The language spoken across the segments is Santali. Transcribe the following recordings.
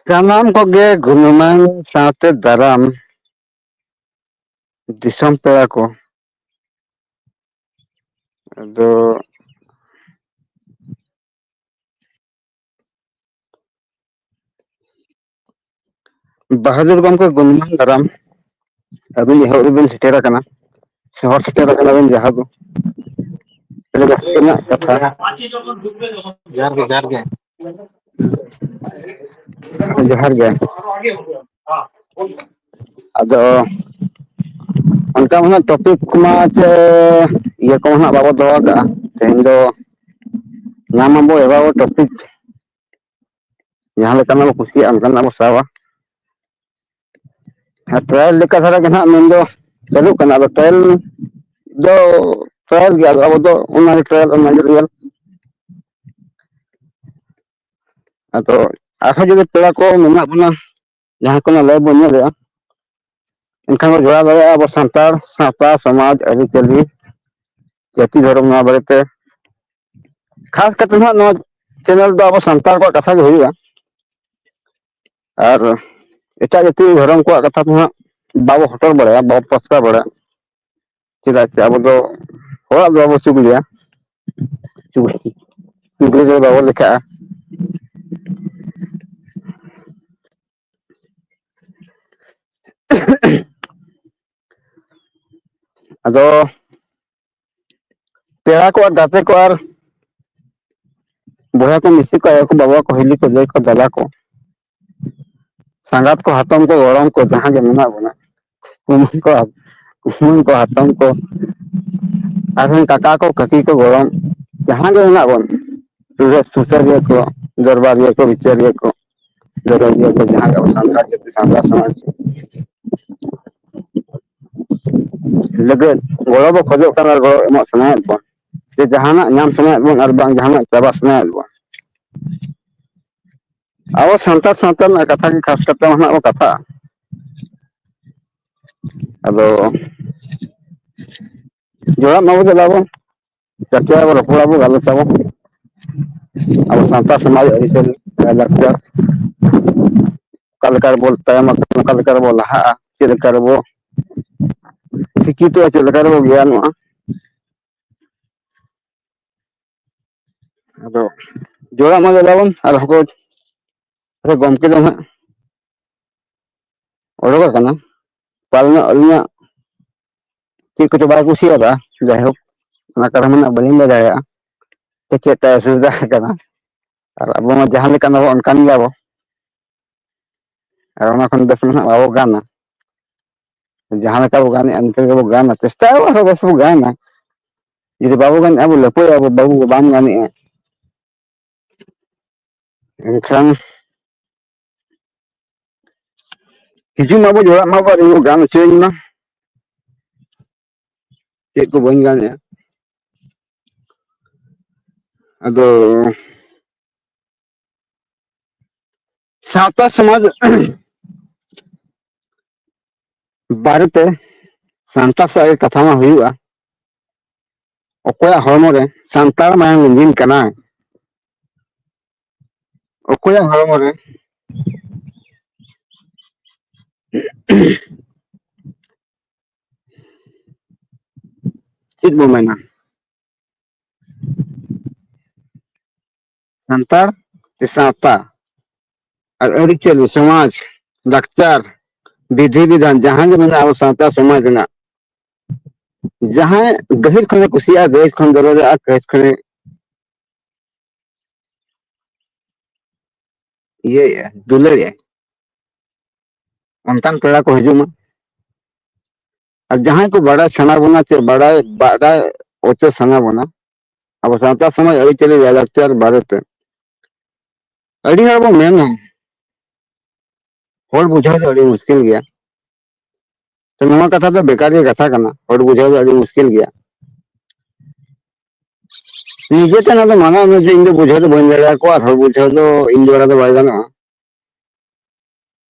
ᱥᱟᱱᱟᱢ ᱠᱚᱜᱮ ᱜᱩᱱᱢᱟᱱ ᱥᱟᱶᱛᱮ ᱫᱟᱨᱟᱢ ᱫᱤᱥᱚᱢ ᱯᱮᱲᱟ ᱠᱚ ᱟᱫᱚ ᱵᱟᱦᱟᱫᱩᱨ ᱜᱚᱢᱠᱮ ᱜᱩᱱᱢᱟᱱ ᱫᱷᱟᱨᱟᱢ ᱟᱹᱵᱤᱱ ᱮᱦᱚᱵ ᱨᱮᱵᱤᱱ ᱥᱮᱴᱮᱨ ᱟᱠᱟᱱᱟ ᱥᱚᱦᱚᱨ ᱥᱮᱴᱮᱨ ᱟᱠᱟᱱᱟᱵᱤᱱ ᱡᱟᱦᱟᱸ ᱫᱚ ᱟᱹᱰᱤ ᱨᱟᱹᱥᱠᱟᱹ ᱨᱮᱱᱟᱜ ᱠᱟᱛᱷᱟ ᱡᱚᱦᱟᱨ ᱜᱮ ᱡᱚᱦᱟᱨ ᱜᱮ ᱡᱚᱦᱟᱨ ᱜᱮ ᱟᱫᱚ ᱚᱱᱠᱟ ᱢᱟ ᱦᱟᱸᱜ ᱴᱚᱯᱤᱠ ᱠᱚᱢᱟ ᱪᱮ ᱤᱭᱟᱹ ᱠᱚᱢᱟ ᱦᱟᱸᱜ ᱵᱟᱵᱚ ᱫᱚᱦᱚ ᱠᱟᱜᱼᱟ ᱛᱮᱦᱮᱧ ᱫᱚ ᱧᱟᱢ ᱟᱵᱚ ᱮᱵᱟᱨ ᱴᱚᱯᱤᱠ ᱡᱟᱦᱟᱸ ᱞᱮᱠᱟᱱᱟᱜ ᱵᱚ ᱠᱩᱥᱤᱭᱟᱜᱼᱟ ᱚᱱᱠᱟᱱᱟᱜ ᱵᱚ ᱥᱟᱵᱟ ᱟᱨ ᱯᱨᱟᱭ ᱞᱮᱠᱟ ᱫᱷᱟᱨᱟ ᱜᱮ ᱦᱟᱸᱜ ᱢᱮᱱᱫᱚ ᱪᱟᱹᱞᱩᱜ ᱠᱟᱱᱟ ᱟᱫᱚ ᱴᱟᱭᱤᱞ ᱫᱚ ᱴᱨᱟᱭᱟᱞ ᱜᱮ ᱟᱫᱚ ᱟᱵᱚ ᱫᱚ ᱚᱱᱟᱜᱮ ᱴᱨᱟᱭᱟᱞ ᱚᱱᱟᱜᱮ ᱨᱤᱭᱮᱞ ᱟᱫᱚ ᱟᱨᱦᱚᱸ ᱡᱩᱫᱤ ᱯᱮᱲᱟ ᱠᱚ ᱢᱮᱱᱟᱜ ᱵᱚᱱᱟ ᱡᱟᱦᱟᱸ ᱠᱚᱱᱟᱜ ᱞᱟᱭᱤᱵᱷ ᱵᱚᱱ ᱧᱮᱞᱮᱫᱼᱟ ᱮᱱᱠᱷᱟᱱ ᱵᱚᱱ ᱡᱚᱲᱟᱣ ᱫᱟᱲᱮᱭᱟᱜᱼᱟ ᱟᱵᱚ ᱥᱟᱱᱛᱟᱲ ᱥᱟᱶᱛᱟ ᱥᱚᱢᱟᱡᱽ ᱟᱹᱨᱤᱪᱟᱹᱞᱤ ᱡᱟᱹᱛᱤ ᱫᱷᱚᱨᱚᱢ ᱱᱚᱣᱟ ᱵᱟᱨᱮᱛᱮ ᱠᱷᱟᱥ ᱠᱟᱛᱮ ᱱᱟᱦᱟᱜ ᱱᱚᱣᱟ ᱪᱮᱱᱮᱞ ᱫᱚ ᱟᱵᱚ ᱥᱟᱱᱛᱟᱲ ᱠᱚᱣᱟᱜ ᱠᱟᱛᱷᱟ ᱜᱮ ᱦᱩᱭᱩᱜᱼᱟ ᱟᱨ ᱮᱴᱟᱜ ᱡᱟᱹᱛᱤ ᱫᱷᱚᱨᱚᱢ ᱠᱚᱣᱟᱜ ᱠᱟᱛᱷᱟ ᱫᱚ ᱦᱟᱸᱜ ᱵᱟᱵᱚ ᱦᱚᱴᱚᱨ ᱵᱟᱲᱟᱭᱟ ᱵᱟᱵᱚ ᱯᱨᱚᱥᱠᱟᱨ ᱵᱟᱲᱟᱭᱟ ᱪᱮᱫᱟᱜ ᱪᱮ ᱟᱵᱚ ᱫᱚ ᱦᱚᱲᱟᱜ ᱫᱚ ᱵᱟᱵᱚ ᱪᱩᱜᱽᱞᱤᱭᱟ ᱪᱩᱜᱽᱞᱤ ᱫᱚ ᱵᱟᱵᱚ ᱞᱮᱠᱷᱟᱜᱼᱟ ᱟᱫᱚ ᱯᱮᱲᱟ ᱠᱚ ᱟᱨ ᱜᱟᱛᱮ ᱠᱚ ᱟᱨ ᱵᱚᱭᱦᱟ ᱠᱚ ᱢᱤᱥᱤ ᱠᱚ ᱟᱭᱳ ᱠᱚ ᱵᱟᱵᱟ ᱠᱚ ᱦᱤᱞᱤ ᱠᱚ ᱫᱟᱹᱭ ᱠᱚ ᱫᱟᱫᱟ ᱠᱚ ᱥᱟᱸᱜᱟᱛ ᱠᱚ ᱦᱟᱛᱚᱢ ᱠᱚ ᱜᱚᱲᱚᱢ ᱠᱚ ᱡᱟᱦᱟᱸ ᱜᱮ ᱢᱮᱱᱟᱜ ᱵᱚᱱᱟ ᱠᱩᱢᱟᱝ ᱠᱚ ᱠᱩᱢᱟᱝ ᱠᱚ ᱦᱟᱛᱚᱢ ᱠᱚ ᱟᱨᱦᱚᱸ ᱠᱟᱠᱟ ᱠᱚ ᱠᱟᱹᱠᱤ ᱠᱚ ᱜᱚᱲᱚᱢ ᱡᱟᱦᱟᱸ ᱜᱮ ᱢᱮᱱᱟᱜ ᱵᱚᱱ ᱥᱩᱥᱟᱹᱨ ᱥᱩᱥᱟᱹᱨᱤᱭᱟᱹ ᱠᱚ ᱫᱚᱨᱵᱟᱨᱤᱭᱟᱹ ᱠᱚ ᱵᱤᱪᱟᱹᱨᱤᱭᱟᱹ ᱠᱚ ᱡᱟᱦᱟᱸ ᱜᱮ ᱟᱵᱚ ᱥᱟᱱᱛᱟᱲ ᱡᱟᱹᱛᱤ ᱥᱟᱱᱛᱟᱲ ᱥᱚᱢᱟᱡᱽ ᱞᱟᱹᱜᱤᱫ ᱜᱚᱲᱚ ᱵᱚ ᱠᱷᱚᱡᱚᱜ ᱠᱟᱱᱟ ᱟᱨ ᱜᱚᱲᱚ ᱮᱢᱚᱜ ᱥᱟᱱᱟᱭᱮᱫ ᱵᱚᱱ ᱡᱮ ᱡᱟᱦᱟᱱᱟᱜ ᱧᱟᱢ ᱥᱟᱱᱟᱭᱮᱫ ᱵᱚᱱ ᱟᱨ ᱵᱟᱝ ᱡᱟᱦᱟᱱᱟᱜ ᱪᱟᱵᱟ ᱥᱟᱱᱟᱭᱮᱫ ᱵᱚᱱ ᱟᱵᱚ ᱥᱟᱱᱛᱟᱲ ᱥᱟᱶᱛᱟ ᱨᱮᱱᱟᱜ ᱠᱟᱛᱷᱟ ᱜᱮ ᱠᱷᱟᱥ ᱠᱟᱛᱮ ᱦᱟᱸᱜ ᱵᱚ ᱠᱟᱛᱷᱟᱜᱼᱟ ᱟᱫᱚ ᱡᱚᱲᱟᱜ ᱢᱟᱵᱚ ᱫᱮᱞᱟ ᱵᱚ ᱠᱟᱛᱷᱟ ᱟᱵᱚ ᱨᱚᱯᱚᱲ ᱟᱵᱚ ᱜᱟᱞᱚᱪ ᱟᱵᱚ ᱟᱵᱚ ᱥᱟᱶᱛᱟ ᱥᱚᱢᱟᱡᱽ ᱟᱹᱨᱤ ᱪᱟᱹᱞᱤ ᱞᱟᱭ ᱞᱟᱠᱪᱟᱨ ᱚᱠᱟ ᱞᱮᱠᱟ ᱨᱮᱵᱚ ᱛᱟᱭᱚᱢ ᱟᱠᱟᱱᱟ ᱚᱠᱟ ᱞᱮᱠᱟ ᱨᱮᱵᱚ ᱞᱟᱦᱟᱜᱼᱟ ᱪᱮᱫ ᱞᱮᱠᱟ ᱨᱮᱵᱚ ᱥᱤᱠᱠᱷᱤᱛᱚᱜᱼᱟ ᱪᱮᱫ ᱞᱮᱠᱟ ᱨᱮᱵᱚ ᱜᱮᱭᱟᱱᱚᱜᱼᱟ ᱟᱫᱚ ᱡᱚᱲᱟᱜ ᱢᱟ ᱞᱟᱜᱟᱣᱵᱚᱱ ᱟᱨ ᱦᱚᱸᱠᱚ ᱟᱫᱚ ᱜᱚᱢᱠᱮ ᱫᱚ ᱦᱟᱸᱜ ᱚᱰᱚᱠ ᱟᱠᱟᱱᱟ ᱯᱟᱞᱮᱱᱚᱜ ᱟᱹᱞᱤᱧᱟᱜ ᱪᱮᱫ ᱠᱚᱪᱚ ᱵᱟᱭ ᱠᱩᱥᱤᱭᱟᱫᱟ ᱡᱟᱭᱦᱳᱠ ᱚᱱᱟ ᱠᱟᱨᱚᱱ ᱫᱚ ᱱᱟᱜ ᱵᱟᱹᱞᱤᱧ ᱞᱟᱹᱭ ᱫᱟᱲᱮᱭᱟᱜᱼᱟ ᱥᱮ ᱪᱮᱫ ᱛᱟᱭ ᱚᱥᱩᱵᱤᱫᱷᱟ ᱟᱠᱟᱱᱟ ᱟᱨ ᱟᱵᱚ ᱢᱟ ᱡᱟᱦᱟᱸ ᱞᱮᱠᱟᱱ ᱵᱟᱵᱚ ᱚᱱᱠᱟᱱ ᱜᱮᱭᱟᱵᱚ ᱟᱨ ᱚᱱᱟ ᱠᱷᱚᱱ ᱵᱮᱥ ᱢᱟ ᱱᱟᱜ ᱵᱟᱵᱚ ᱜᱟᱱᱟ ᱡᱟᱦᱟᱸ ᱞᱮᱠᱟ ᱵᱚ ᱜᱟᱱᱮᱜᱼᱟ ᱤᱱᱠᱟᱹ ᱜᱮᱵᱚ ᱜᱟᱱᱟ ᱪᱮᱥᱴᱟᱭ ᱟᱵᱚ ᱟᱨᱦᱚᱸ ᱵᱮᱥ ᱵᱚ ᱜᱟᱱᱟ ᱡᱩᱫᱤ ᱵᱟᱵᱚ ᱜᱟᱱᱮᱜᱼᱟ ᱵᱚ ᱞᱟᱹᱯᱟᱹᱭ ᱟᱵᱚ ᱵᱟᱵᱚ ᱵᱟᱢ ᱜᱟᱱᱮᱜᱼᱟ ᱮᱱᱠᱷᱟᱱ ᱦᱤᱡᱩᱜ ᱢᱟᱵᱚ ᱡᱚᱲᱟᱜ ᱢᱟᱵᱚ ᱟᱨ ᱤᱧ ᱵᱚ ᱜᱟᱱ ᱦᱚᱪᱚᱭᱤᱧ ᱢᱟ ᱪᱮᱫ ᱠᱚ ᱵᱟᱹᱧ ᱜᱟᱱᱮᱜᱼᱟ ᱟᱫᱚ ᱥᱟᱶᱛᱟ ᱥᱚᱢᱟᱡᱽ ᱵᱟᱨᱮᱛᱮ ᱥᱟᱱᱛᱟᱲ ᱥᱟᱶ ᱜᱮ ᱠᱟᱛᱷᱟ ᱢᱟ ᱦᱩᱭᱩᱜᱼᱟ ᱚᱠᱚᱭᱟᱜ ᱦᱚᱲᱢᱚ ᱨᱮ ᱥᱟᱱᱛᱟᱲ ᱢᱟᱭᱟᱝ ᱞᱤᱸᱡᱤᱱ ᱠᱟᱱᱟ ᱚᱠᱚᱭᱟᱜ ᱦᱚᱲᱢᱚ ᱨᱮ ᱪᱮᱫ ᱵᱚ ᱢᱮᱱᱟ ᱥᱟᱱᱛᱟᱲ ᱥᱮ ᱥᱟᱶᱛᱟ ᱟᱨ ᱟᱹᱨᱤᱪᱟᱹᱞᱤ ᱥᱚᱢᱟᱡᱽ ᱞᱟᱠᱪᱟᱨ ᱵᱤᱫᱷᱤ ᱵᱤᱫᱷᱟᱱ ᱡᱟᱦᱟᱸ ᱜᱮ ᱢᱮᱱᱟᱜᱼᱟ ᱟᱵᱚ ᱥᱟᱶᱛᱟ ᱥᱚᱢᱟᱡᱽ ᱨᱮᱱᱟᱜ ᱡᱟᱦᱟᱸᱭ ᱜᱟᱹᱦᱤᱨ ᱠᱷᱚᱱᱮ ᱠᱩᱥᱤᱭᱟᱜᱼᱟ ᱜᱟᱹᱦᱤᱨ ᱠᱷᱚᱱ ᱫᱚᱨᱚᱡᱟᱜᱼᱟ ᱜᱟᱹᱦᱤᱨ ᱠᱷᱚᱱᱮ ᱤᱭᱟᱹᱭᱮᱜᱼᱟ ᱫᱩᱞᱟᱹᱲᱮᱜᱼᱟ ᱚᱱᱠᱟᱱ ᱯᱮᱲᱟ ᱠᱚ ᱦᱤᱡᱩᱜ ᱢᱟ ᱟᱨ ᱡᱟᱦᱟᱸᱭ ᱠᱚ ᱵᱟᱰᱟᱭ ᱥᱟᱱᱟ ᱵᱚᱱᱟ ᱪᱮ ᱵᱟᱰᱟᱭ ᱵᱟᱰᱟᱭ ᱚᱪᱚ ᱥᱟᱱᱟ ᱵᱚᱱᱟ ᱟᱵᱚ ᱥᱟᱶᱛᱟ ᱥᱚᱢᱟᱡᱽ ᱟᱹᱨᱤᱪᱟᱹᱞᱤ ᱞᱟᱭᱼᱞᱟᱠᱪᱟᱨ ᱵᱟᱨᱮᱛᱮ ᱟᱹᱰᱤ ᱦᱚᱲ ᱵᱚᱱ ᱢᱮᱱᱟ ᱦᱚᱲ ᱵᱩᱡᱷᱟᱹᱣ ᱫᱚ ᱟᱹᱰᱤ ᱢᱩᱥᱠᱤᱞ ᱜᱮᱭᱟ ᱛᱚ ᱱᱚᱣᱟ ᱠᱟᱛᱷᱟ ᱫᱚ ᱵᱮᱠᱟᱨ ᱜᱮ ᱠᱟᱛᱷᱟ ᱠᱟᱱᱟ ᱦᱚᱲ ᱵᱩᱡᱷᱟᱹᱣ ᱫᱚ ᱟᱹᱰᱤ ᱢᱩᱥᱠᱤᱞ ᱜᱮᱭᱟ ᱱᱤᱡᱮ ᱛᱮ ᱱᱚᱣᱟ ᱫᱚ ᱢᱟᱱᱟᱣ ᱢᱮ ᱡᱮ ᱤᱧ ᱫᱚ ᱵᱩᱡᱷᱟᱹᱣ ᱫᱚ ᱵᱟᱹᱧ ᱫᱟᱲᱮᱭᱟᱠᱚᱣᱟ ᱟᱨ ᱦᱚᱲ ᱵᱩᱡᱷᱟᱹᱣ ᱫᱚ ᱤᱧ ᱫᱚ ᱵᱟᱭ ᱜᱟᱱᱚᱜᱼᱟ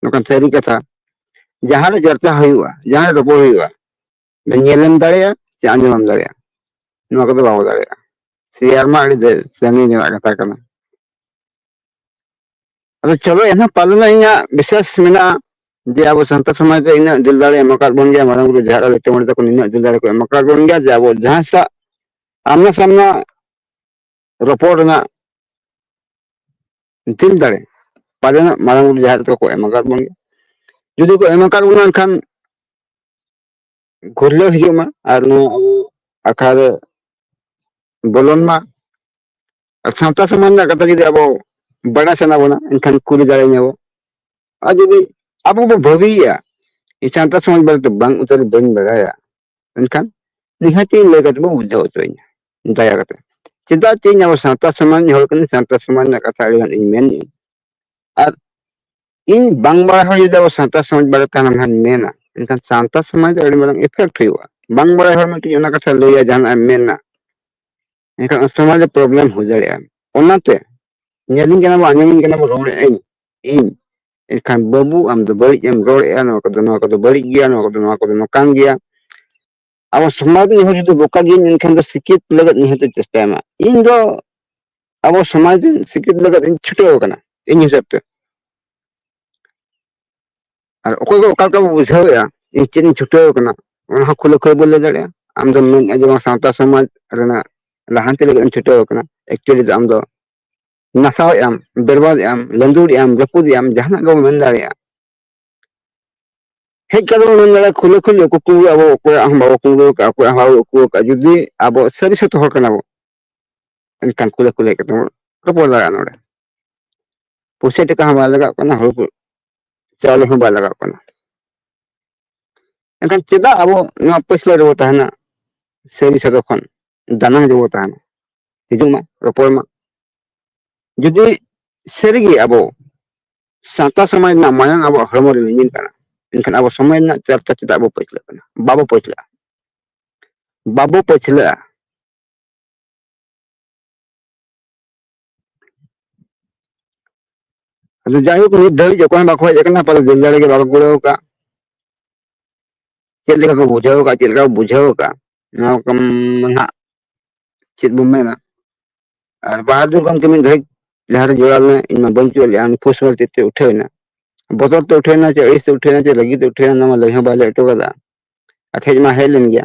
ᱱᱚᱝᱠᱟᱱ ᱥᱟᱹᱨᱤ ᱠᱟᱛᱷᱟ ᱡᱟᱦᱟᱸᱨᱮ ᱪᱚᱨᱪᱟ ᱦᱩᱭᱩᱜᱼᱟ ᱡᱟᱦᱟᱸᱨᱮ ᱨᱚᱯᱚᱲ ᱦᱩᱭᱩᱜᱼᱟ ᱧᱮᱞᱮᱢ ᱫᱟᱲᱮᱭᱟᱜᱼᱟ ᱥᱮ ᱟᱸᱡᱚᱢᱮᱢ ᱫᱟᱲᱮᱭᱟᱜᱼᱟ ᱱᱚᱣᱟ ᱠᱚᱫᱚ ᱵᱟᱵᱚ ᱫᱟᱲᱮᱭᱟᱜᱼᱟ ᱥᱮᱭᱟᱨ ᱢᱟ ᱟᱹᱰᱤ ᱥᱟᱺᱜᱤᱧ ᱧᱚᱜ ᱠᱟᱛᱷᱟ ᱠᱟᱱᱟ ᱟᱫᱚ ᱪᱚᱞᱚ ᱮᱱᱦᱚᱸ ᱯᱟᱞᱮᱱ ᱤᱧᱟᱹᱜ ᱵᱤᱥᱮᱥ ᱢᱮᱱᱟᱜᱼᱟ ᱡᱮ ᱟᱵᱚ ᱥᱟᱱᱛᱟᱲ ᱥᱚᱢᱟᱡᱽ ᱨᱮ ᱤᱱᱟᱹᱜ ᱫᱤᱞ ᱫᱟᱲᱮ ᱮᱢ ᱟᱠᱟᱫ ᱵᱚᱱ ᱜᱮᱭᱟ ᱢᱟᱨᱟᱝ ᱵᱩᱨᱩ ᱡᱟᱦᱮᱨ ᱟᱭᱳ ᱪᱮᱢᱚᱬᱮ ᱛᱟᱠᱚ ᱱᱤᱱᱟᱹᱜ ᱫᱤᱞ ᱫᱟᱲᱮ ᱠᱚ ᱮᱢ ᱟᱠᱟᱫ ᱵᱚᱱ ᱜᱮᱭᱟ ᱡᱮ ᱟᱵᱚ ᱡᱟᱦᱟᱸ ᱥᱟᱜ ᱟᱢᱱᱟ ᱥᱟᱢᱱᱟ ᱨᱚᱯᱚᱲ ᱨᱮᱱᱟᱜ ᱫᱤᱞ ᱫᱟᱲᱮ ᱯᱟᱞᱮᱱᱟᱜ ᱢᱟᱨᱟᱝ ᱵᱩᱨᱩ ᱡᱟᱦᱮᱨ ᱠᱚ ᱮᱢ ᱟᱠᱟᱫ ᱵᱚᱱ ᱜᱮᱭᱟ ᱡᱩᱫᱤ ᱠᱚ ᱮᱢ ᱟᱠᱟᱫ ᱵᱚᱱᱟ ᱮᱱᱠᱷᱟᱱ ᱜᱷᱩᱨᱞᱟᱹᱣ ᱦᱤᱡᱩᱜ ᱢᱟ ᱟᱨ ᱱᱚᱣᱟ ᱟᱵᱚ ᱟᱠᱷᱲᱟ ᱨᱮ ᱵᱚᱞᱚᱱ ᱢᱟ ᱟᱨ ᱥᱟᱶᱛᱟ ᱥᱚᱢᱟᱡᱽ ᱨᱮᱱᱟᱜ ᱠᱟᱛᱷᱟ ᱡᱩᱫᱤ ᱟᱵᱚ ᱵᱟᱲᱟᱭ ᱥᱟᱱᱟ ᱵᱚᱱᱟ ᱮᱱᱠᱷᱟᱱ ᱠᱩᱞᱤ ᱫᱟᱲᱮ ᱧᱟᱵᱚ ᱟᱨ ᱡᱩᱫᱤ ᱟᱵᱚ ᱵᱚ ᱵᱷᱟᱹᱵᱤᱭᱟ ᱥᱟᱶᱛᱟ ᱥᱚᱢᱟᱡᱽ ᱵᱟᱨᱮᱛᱮ ᱵᱟᱝ ᱩᱛᱟᱹᱨ ᱵᱟᱹᱧ ᱵᱟᱲᱟᱭᱟ ᱢᱮᱱᱠᱷᱟᱱ ᱱᱤᱦᱟᱹᱛ ᱤᱧ ᱞᱟᱹᱭ ᱠᱟᱛᱮ ᱵᱚ ᱵᱩᱡᱷᱟᱹᱣ ᱦᱚᱪᱚᱭᱤᱧᱟ ᱫᱟᱭᱟ ᱠᱟᱛᱮ ᱪᱮᱫᱟᱜ ᱪᱮ ᱤᱧ ᱟᱵᱚ ᱥᱟᱶᱛᱟ ᱥᱚᱢᱟᱡᱽ ᱦᱚᱲ ᱠᱟᱹᱱᱟᱹᱧ ᱥᱟᱶᱛᱟ ᱥᱚᱢᱟᱡᱽ ᱨᱮᱱᱟᱜ ᱠᱟᱛᱷᱟ ᱟᱹᱰᱤ ᱜᱟᱱ ᱤᱧ ᱢᱮᱱᱮᱫ ᱟᱨ ᱤᱧ ᱵᱟᱝ ᱵᱟᱲᱟᱭ ᱦᱚᱲ ᱡᱩᱫᱤ ᱟᱵᱚ ᱥᱟᱶᱛᱟ ᱥᱚᱢᱟᱡᱽ ᱵᱟᱨᱮ ᱛᱟᱦᱮᱱᱟ ᱢᱮᱱ ᱢᱮᱱᱟ ᱮᱱᱠᱷᱟᱱ ᱥᱟᱶᱛᱟ ᱥᱚᱢᱟᱡᱽ ᱟᱹᱰᱤ ᱢᱟᱨᱟᱝ ᱤᱯᱷᱮᱠᱴ ᱦᱩᱭᱩᱜᱼᱟ ᱵᱟᱝ ᱵᱟᱲᱟᱭ ᱦᱚᱲ ᱢᱤᱫᱴᱤᱡ ᱚᱱᱟ ᱠᱟᱛᱷᱟ ᱞᱟᱹᱭᱟ ᱡᱟᱦᱟᱱᱟᱜ ᱮᱢ ᱢᱮᱱᱟ ᱮᱱᱠᱷᱟᱱ ᱩᱱ ᱥᱚᱢᱚᱭ ᱫᱚ ᱯᱨᱚᱵᱞᱮᱢ ᱦᱩᱭ ᱫᱟᱲᱮᱭᱟᱜᱼᱟ ᱚᱱᱟᱛᱮ ᱧᱮᱞᱤᱧ ᱠᱟᱱᱟ ᱵᱚᱱ ᱟᱸᱡᱚᱢᱤᱧ ᱠᱟᱱᱟ ᱵᱚᱱ ᱨᱚᱲᱮᱫ ᱟᱹᱧ ᱤᱧ ᱮᱱᱠᱷᱟᱱ ᱵᱟᱹᱵᱩ ᱟᱢ ᱫᱚ ᱵᱟᱹᱲᱤᱡ ᱮᱢ ᱨᱚᱲᱮᱫᱼᱟ ᱱᱚᱣᱟ ᱠᱚᱫᱚ ᱱᱚᱣᱟ ᱠᱚᱫᱚ ᱵᱟᱹᱲᱤᱡ ᱜᱮᱭᱟ ᱱᱚᱣᱟ ᱠᱚᱫᱚ ᱱᱚᱣᱟ ᱠᱚᱫᱚ ᱱᱚᱝᱠᱟᱱ ᱜᱮᱭᱟ ᱟᱵᱚ ᱥᱚᱢᱟᱡᱽ ᱨᱮᱱ ᱦᱚᱲ ᱡᱩᱫᱤ ᱵᱚᱠᱟ ᱜᱮᱭᱟ ᱮᱱᱠᱷᱟᱱ ᱫᱚ ᱥᱤᱠᱷᱤᱛ ᱞᱟᱹᱜᱤᱫ ᱱᱤᱦᱟᱹᱛ ᱪᱮᱥᱴᱟᱭ ᱢᱟ ᱤᱧ ᱫᱚ ᱟᱵᱚ ᱥᱚᱢᱟᱡᱽ ᱨᱮᱱ ᱥᱤᱠᱷᱤᱛ ᱞᱟᱹᱜᱤᱫ ᱤᱧ ᱪᱷᱩᱴᱟᱹᱣ ᱟᱠᱟᱱᱟ ᱤᱧ ᱦᱤᱥᱟᱹᱵ ᱛᱮ ᱟᱨ ᱚᱠᱚᱭ ᱫᱚ ᱚᱠᱟ ᱞᱮᱠᱟ ᱵᱚ ᱵᱩᱡᱷᱟᱹᱣᱮᱫᱼᱟ ᱤᱧ ᱪᱮᱫ ᱤᱧ ᱪᱷᱩᱴᱟᱹᱣ ᱟᱠᱟᱱᱟ ᱚᱱᱟ ᱦᱚᱸ ᱠᱷᱩᱞᱟᱹ ᱠᱷᱩᱞᱟᱹ ᱵᱚᱱ ᱞᱟᱹᱭ ᱫᱟᱲᱮᱭᱟᱜᱼᱟ ᱟᱢ ᱫᱚᱢ ᱢᱮᱱᱮᱫᱼᱟ ᱡᱮ ᱵᱟᱝ ᱥᱟᱶᱛᱟ ᱥᱚᱢᱟᱡᱽ ᱨᱮᱱᱟᱜ ᱞᱟᱦᱟᱱᱛᱤ ᱞᱟᱹᱜᱤᱫ ᱮᱢ ᱪᱷᱩᱴᱟᱹᱣ ᱟᱠᱟᱱᱟ ᱮᱠᱪᱩᱭᱮᱞᱤ ᱫᱚ ᱟᱢ ᱫᱚ ᱱᱟᱥᱟᱣᱮᱫ ᱟᱢ ᱵᱮᱨᱵᱟᱫᱮᱫ ᱟᱢ ᱞᱟᱹᱫᱩᱲᱮᱫ ᱟᱢ ᱨᱟᱹᱯᱩᱫᱮᱫ ᱟᱢ ᱡᱟᱦᱟᱱᱟᱜ ᱜᱮᱵᱚᱱ ᱢᱮᱱ ᱫᱟᱲᱮᱭᱟᱜᱼᱟ ᱦᱮᱡ ᱠᱟᱛᱮ ᱵᱚᱱ ᱢᱮᱱ ᱫᱟᱲᱮᱭᱟᱜᱼᱟ ᱠᱷᱩᱞᱟᱹ ᱠᱷᱩᱞᱟᱹ ᱠᱩᱠᱩ ᱟᱵᱚ ᱚᱠᱚᱭᱟᱜ ᱦᱚᱸ ᱵᱟᱵᱚ ᱠᱩᱢᱵᱽᱲᱩ ᱟᱠᱟᱫᱼᱟ ᱚᱠᱚᱭᱟᱜ ᱦᱚᱸ ᱵᱟᱵᱚ ᱩᱠᱩ ᱟᱠᱟᱫᱼᱟ ᱡᱩᱫᱤ ᱟᱵᱚ ᱥᱟᱹᱨᱤ ᱥᱟᱹᱛ ᱦᱚᱲ ᱠᱟᱱᱟ ᱵᱚ ᱮᱱᱠᱷᱟᱱ ᱠᱩᱞᱟᱹ ᱠᱩᱞᱟᱹ ᱠᱟᱛᱮ ᱵᱚᱱ ᱨᱚᱯᱚᱲ ᱫᱟᱲᱮᱭᱟᱜᱼᱟ ᱱᱚᱰᱮ ᱯᱩᱭᱥᱟᱹ ᱴᱟᱠᱟ ᱦᱚᱸ ᱵᱟᱭ ᱞᱟᱜᱟᱜ ᱠᱟᱱᱟ ᱦᱩᱲᱩ ᱠᱚ ᱪᱟᱣᱞᱮ ᱦᱚᱸ ᱵᱟᱭ ᱞᱟᱜᱟᱜ ᱠᱟᱱᱟ ᱮᱱᱠᱷᱟᱱ ᱪᱮᱫᱟᱜ ᱟᱵᱚ ᱱᱚᱣᱟ ᱯᱟᱹᱪᱷᱞᱟᱹ ᱨᱮᱵᱚ ᱛᱟᱦᱮᱱᱟ ᱥᱟᱹᱨᱤ ᱥᱚᱫᱚ ᱠᱷᱚᱱ ᱫᱟᱱᱟᱝ ᱨᱮᱵᱚ ᱛᱟᱦᱮᱱᱟ ᱦᱤᱡᱩᱜ ᱢᱟ ᱨᱚᱯᱚᱲ ᱢᱟ ᱡᱩᱫᱤ ᱥᱟᱹᱨᱤᱜᱮ ᱟᱵᱚ ᱥᱟᱶᱛᱟ ᱥᱚᱢᱟᱡᱽ ᱨᱮᱱᱟᱜ ᱢᱟᱭᱟᱝ ᱟᱵᱚᱣᱟᱜ ᱦᱚᱲᱢᱚ ᱨᱮ ᱞᱤᱸᱜᱤᱱ ᱠᱟᱱᱟ ᱮᱱᱠᱷᱟᱱ ᱟᱵᱚ ᱥᱚᱢᱟᱡᱽ ᱨᱮᱱᱟᱜ ᱪᱟᱨᱪᱟ ᱪᱮᱫᱟᱜ ᱵᱚ ᱯᱟᱹᱪᱷᱞᱟᱹᱜ ᱠᱟᱱᱟ ᱵᱟᱵᱚ ᱯᱟᱹᱪᱷᱞᱟᱹᱜᱼᱟ ᱵᱟᱵᱚ ᱯᱟᱹᱪᱷᱞᱟᱹᱜᱼᱟ ᱟᱫᱚ ᱡᱟᱭᱦᱳᱠ ᱱᱤᱛ ᱫᱷᱟᱹᱵᱤᱡ ᱚᱠᱚᱭ ᱵᱟᱠᱚ ᱦᱮᱡ ᱟᱠᱟᱱᱟ ᱯᱟᱞᱮ ᱫᱤᱞ ᱫᱟᱲᱮ ᱜᱮ ᱵᱟᱠᱚ ᱠᱩᱲᱟᱹᱣ ᱟᱠᱟᱫ ᱪᱮᱫ ᱞᱮᱠᱟ ᱠᱚ ᱵᱩᱡᱷᱟᱹᱣ ᱟᱠᱟᱫ ᱪᱮᱫ ᱞᱮᱠᱟ ᱠᱚ ᱵᱩᱡᱷᱟᱹᱣ ᱟᱠᱟᱫ ᱱᱚᱣᱟ ᱠᱚ ᱱᱟᱦᱟᱜ ᱪᱮᱫ ᱵᱚᱱ ᱢᱮᱱᱟ ᱟᱨ ᱵᱟᱦᱟᱫᱩᱨ ᱜᱚᱢᱠᱮ ᱢᱤᱫ ᱜᱷᱟᱹᱲᱤᱡ ᱞᱟᱦᱟᱨᱮ ᱡᱚᱲᱟᱣ ᱞᱮᱱᱟ ᱤᱧ ᱢᱟ ᱵᱟᱹᱧ ᱪᱩᱭᱟᱹᱜ ᱞᱮᱫᱼᱟ ᱩᱱᱤ ᱯᱳᱥᱴ ᱢᱟᱨ ᱪᱮᱫ ᱛᱮ ᱩᱴᱷᱟᱹᱣ ᱮᱱᱟ ᱵᱚᱛᱚᱨ ᱛᱮ ᱩᱴᱷᱟᱹᱣ ᱮᱱᱟ ᱪᱮ ᱟᱹᱲᱤᱥ ᱛᱮ ᱩᱴᱷᱟᱹᱣ ᱮᱱᱟ ᱪᱮ ᱨᱟᱹᱜᱤ ᱛᱮ ᱩᱴᱷᱟᱹᱣ ᱮᱱᱟ ᱚᱱᱟ ᱢᱟ ᱞᱟᱹᱭ ᱦᱚᱸ ᱵᱟᱭ ᱞᱟᱹᱭ ᱦᱚᱴᱚ ᱠᱟᱫᱟ ᱟᱨ ᱦᱮᱡ ᱢᱟ ᱦᱮᱡ ᱞᱮᱱ ᱜᱮᱭᱟ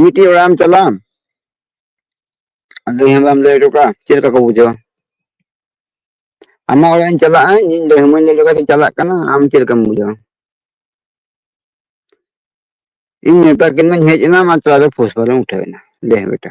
ᱢᱤᱫᱴᱤᱡ ᱚᱲᱟᱜ ᱮᱢ ᱪᱟᱞᱟᱜᱼᱟ ᱟᱫᱚ ᱦᱮᱸ ᱵᱟᱢ ᱞᱟᱹᱭ ᱦᱚᱴᱚ ᱠᱟᱜᱼᱟ ᱪᱮᱫ ᱞᱮᱠᱟ ᱠᱚ ᱵᱩᱡᱷᱟᱹᱣᱟ ᱟᱢᱟᱜ ᱚᱲᱟᱜ ᱤᱧ ᱪᱟᱞᱟᱜᱼᱟ ᱤᱧ ᱞᱟᱹᱭ ᱦᱚᱢᱟᱹᱧ ᱞᱟᱹᱭ ᱞᱮᱠᱟ ᱛᱤᱧ ᱪᱟᱞᱟᱜ ᱠᱟᱱᱟ ᱟᱢ ᱪᱮᱫ ᱞᱮᱠᱟᱢ ᱵᱩᱡᱷᱟᱹᱣᱟ ᱤᱧ ᱢᱮᱛᱟ ᱠᱤᱱ ᱢᱟᱹᱧ ᱦᱮᱡ ᱮᱱᱟ ᱢᱟᱛᱨᱟ ᱟᱫᱚ ᱯᱷᱩᱥ ᱯᱷᱟᱨᱮᱢ ᱩᱴᱷᱟᱹᱣ ᱮᱱᱟ ᱞᱟᱹᱭ ᱦᱮᱸ ᱵᱮᱴᱟ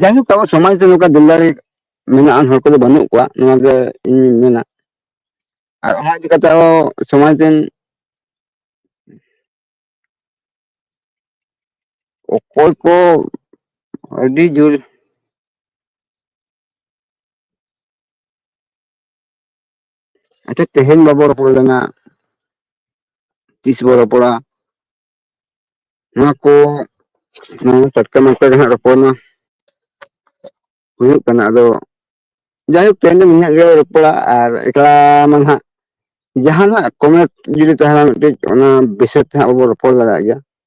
ᱡᱟᱭᱦᱳᱠ ᱟᱵᱚ ᱥᱚᱢᱟᱡᱽ ᱨᱮ ᱱᱚᱝᱠᱟ ᱫᱤᱞ ᱫᱟᱲᱮ ᱢᱮᱱᱟᱜ ᱟᱱ ᱦᱚᱲ ᱠᱚᱫᱚ ᱵᱟᱹᱱᱩᱜ ᱠᱚᱣᱟ ᱱᱚᱣᱟ ᱜᱮ ᱤᱧ ᱢᱮᱱᱟ ᱟᱨ ᱚᱱᱟ ᱤᱫᱤ ᱠᱟᱛᱮ ᱟᱵᱚ ᱥᱚᱢᱟᱡᱽ ᱨᱮᱱ ᱚᱠᱚᱭ ᱠᱚ ᱟᱹᱰᱤ ᱡᱳᱨ ᱟᱪᱪᱷᱟ ᱛᱮᱦᱮᱧ ᱵᱟᱵᱚ ᱨᱚᱯᱚᱲ ᱞᱮᱱᱟ ᱛᱤᱥ ᱵᱚ ᱨᱚᱯᱚᱲᱟ ᱱᱚᱣᱟ ᱠᱚ ᱱᱚᱣᱟ ᱴᱟᱴᱠᱟ ᱢᱟᱴᱠᱟ ᱜᱮ ᱦᱟᱸᱜ ᱨᱚᱯᱚᱲ ᱢᱟ ᱦᱩᱭᱩᱜ ᱠᱟᱱᱟ ᱟᱫᱚ ᱡᱟᱭᱦᱳᱠ ᱛᱮᱦᱮᱧ ᱫᱚ ᱱᱤᱭᱟᱹ ᱜᱮ ᱨᱚᱯᱚᱲᱟ ᱟᱨ ᱮᱠᱞᱟ ᱢᱟ ᱦᱟᱸᱜ ᱡᱟᱦᱟᱱᱟᱜ ᱠᱚᱢᱮᱱᱴ ᱡᱩᱫᱤ ᱛᱟᱦᱮᱱᱟ ᱢᱤᱫᱴᱤᱡ ᱚᱱᱟ ᱵᱤᱥᱚᱭ ᱛᱮ ᱦᱟᱸᱜ ᱵᱚ ᱨᱚᱯᱚᱲ ᱫᱟᱲᱮᱭᱟᱜ ᱜᱮᱭᱟ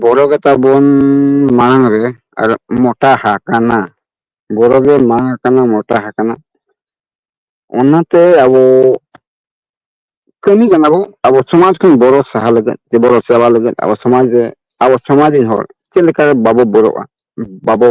ᱵᱚᱨᱚ ᱜᱮ ᱛᱟᱵᱚᱱ ᱢᱟᱲᱟᱝ ᱨᱮ ᱟᱨ ᱢᱚᱴᱟ ᱦᱟᱠᱟᱱᱟ ᱵᱚᱨᱚ ᱜᱮ ᱢᱟᱲᱟᱝ ᱟᱠᱟᱱᱟ ᱢᱚᱴᱟ ᱦᱟᱠᱟᱱᱟ ᱚᱱᱟᱛᱮ ᱟᱵᱚ ᱠᱟᱹᱢᱤ ᱠᱟᱱᱟ ᱵᱚ ᱟᱵᱚ ᱥᱚᱢᱟᱡᱽ ᱠᱷᱚᱱ ᱵᱚᱨᱚ ᱥᱟᱦᱟ ᱞᱟᱹᱜᱤᱫ ᱥᱮ ᱵᱚᱨᱚ ᱪᱟᱵᱟ ᱞᱟᱹᱜᱤᱫ ᱟᱵᱚ ᱥᱚᱢᱟᱡᱽ ᱨᱮ ᱟᱵᱚ ᱥᱚᱢᱟᱡᱽ ᱨᱮᱱ ᱦᱚᱲ ᱪᱮᱫ ᱞᱮᱠᱟ ᱵᱟᱵᱚ ᱵᱚᱨᱚᱜᱼᱟ ᱵᱟᱵᱚ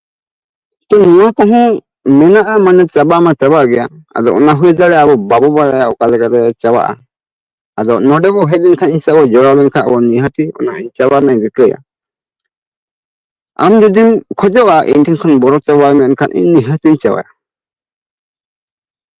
ᱛᱚ ᱱᱚᱣᱟ ᱠᱚᱦᱚᱸ ᱢᱮᱱᱟᱜᱼᱟ ᱢᱟᱱᱮ ᱪᱟᱵᱟ ᱢᱟ ᱪᱟᱵᱟ ᱜᱮᱭᱟ ᱟᱫᱚ ᱚᱱᱟ ᱦᱩᱭ ᱫᱟᱲᱮᱭᱟᱜᱼᱟ ᱟᱵᱚ ᱵᱟᱵᱚ ᱵᱟᱲᱟᱭᱟ ᱚᱠᱟ ᱞᱮᱠᱟᱛᱮ ᱪᱟᱵᱟᱜᱼᱟ ᱟᱫᱚ ᱱᱚᱰᱮ ᱵᱚ ᱦᱮᱡ ᱞᱮᱱᱠᱷᱟᱱ ᱤᱧ ᱥᱟᱶ ᱵᱚᱱ ᱡᱚᱲᱟᱣ ᱞᱮᱱᱠᱷᱟᱱ ᱟᱵᱚ ᱱᱤᱦᱟᱹᱛᱤ ᱚᱱᱟ ᱪᱟᱵᱟ ᱨᱮᱱᱟᱜ ᱤᱧ ᱨᱤᱠᱟᱹᱭᱟ ᱟᱢ ᱡᱩᱫᱤᱢ ᱠᱷᱚᱡᱚᱜᱼᱟ ᱤᱧ ᱴᱷᱮᱱ ᱠᱷᱚᱱ ᱵᱚᱨᱚ ᱪᱟᱵᱟᱭ ᱢᱮ ᱮᱱᱠᱷᱟᱱ ᱤᱧ ᱱᱤᱦᱟᱹᱛᱤᱧ ᱪᱟᱵᱟᱭᱟ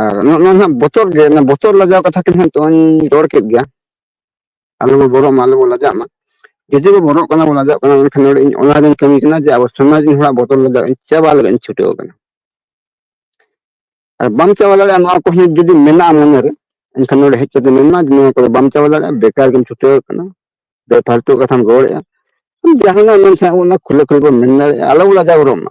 ᱟᱨ ᱱᱚᱜᱼᱚ ᱱᱚᱣᱟ ᱱᱟᱦᱟᱜ ᱵᱚᱛᱚᱨ ᱜᱮ ᱚᱱᱟ ᱵᱚᱛᱚᱨ ᱞᱟᱡᱟᱣ ᱠᱟᱛᱷᱟ ᱠᱤᱱ ᱦᱟᱸᱜ ᱛᱚᱧ ᱨᱚᱲ ᱠᱮᱫ ᱜᱮᱭᱟ ᱟᱞᱚ ᱵᱚ ᱵᱚᱨᱚᱜ ᱢᱟ ᱟᱞᱚ ᱵᱚ ᱞᱟᱡᱟᱜ ᱢᱟ ᱡᱩᱫᱤ ᱵᱚ ᱵᱚᱨᱚᱜ ᱠᱟᱱᱟ ᱵᱚ ᱞᱟᱡᱟᱜ ᱠᱟᱱᱟ ᱮᱱᱠᱷᱟᱱ ᱱᱚᱰᱮ ᱤᱧ ᱚᱱᱟ ᱨᱮᱧ ᱠᱟᱹᱢᱤ ᱠᱟᱱᱟ ᱡᱮ ᱟᱵᱚ ᱥᱚᱢᱟᱡᱽ ᱨᱮᱱ ᱦᱚᱲᱟᱜ ᱵᱚᱛᱚᱨ ᱞᱟᱡᱟᱣ ᱤᱧ ᱪᱟᱵᱟ ᱞᱟᱹᱜᱤᱫ ᱤᱧ ᱪᱷᱩᱴᱟᱹᱣ ᱠᱟᱱᱟ ᱟᱨ ᱵᱟᱢ ᱪᱟᱵᱟ ᱫᱟᱲᱮᱭᱟᱜᱼᱟ ᱱᱚᱣᱟ ᱠᱚ ᱦᱚᱸ ᱡᱩᱫᱤ ᱢᱮᱱᱟᱜᱼᱟ ᱢᱚᱱᱮᱨᱮ ᱮᱱᱠᱷᱟᱱ ᱱᱚᱰᱮ ᱦᱮᱡ ᱠᱟᱛᱮ ᱢᱮᱱᱢᱟ ᱡᱮ ᱱᱚᱣᱟ ᱠᱚᱫᱚ ᱵᱟᱢ ᱪᱟᱵᱟ ᱫᱟᱲᱮᱭᱟᱜᱼᱟ ᱵᱮᱠᱟᱨ ᱜᱮᱢ ᱪᱷᱩᱴᱟᱹᱣ ᱠᱟᱱᱟ ᱵᱮᱯᱷᱟᱞᱛᱩ ᱠᱟᱛᱷᱟᱢ ᱨᱚᱲᱮᱫᱼᱟ ᱡᱟᱦᱟᱱᱟᱜ ᱢᱮᱱ ᱥᱟᱱᱟᱭᱮᱫ ᱵᱚᱱᱟ ᱠᱷᱩᱞᱟᱹ ᱠᱷᱩᱞᱟᱹ ᱵᱚᱱ ᱢᱮᱱ ᱫᱟᱲᱮᱭᱟᱜᱼᱟ ᱟᱞᱚ ᱵᱚ ᱞᱟᱡᱟᱣ ᱵᱚᱨᱚᱜ ᱢᱟ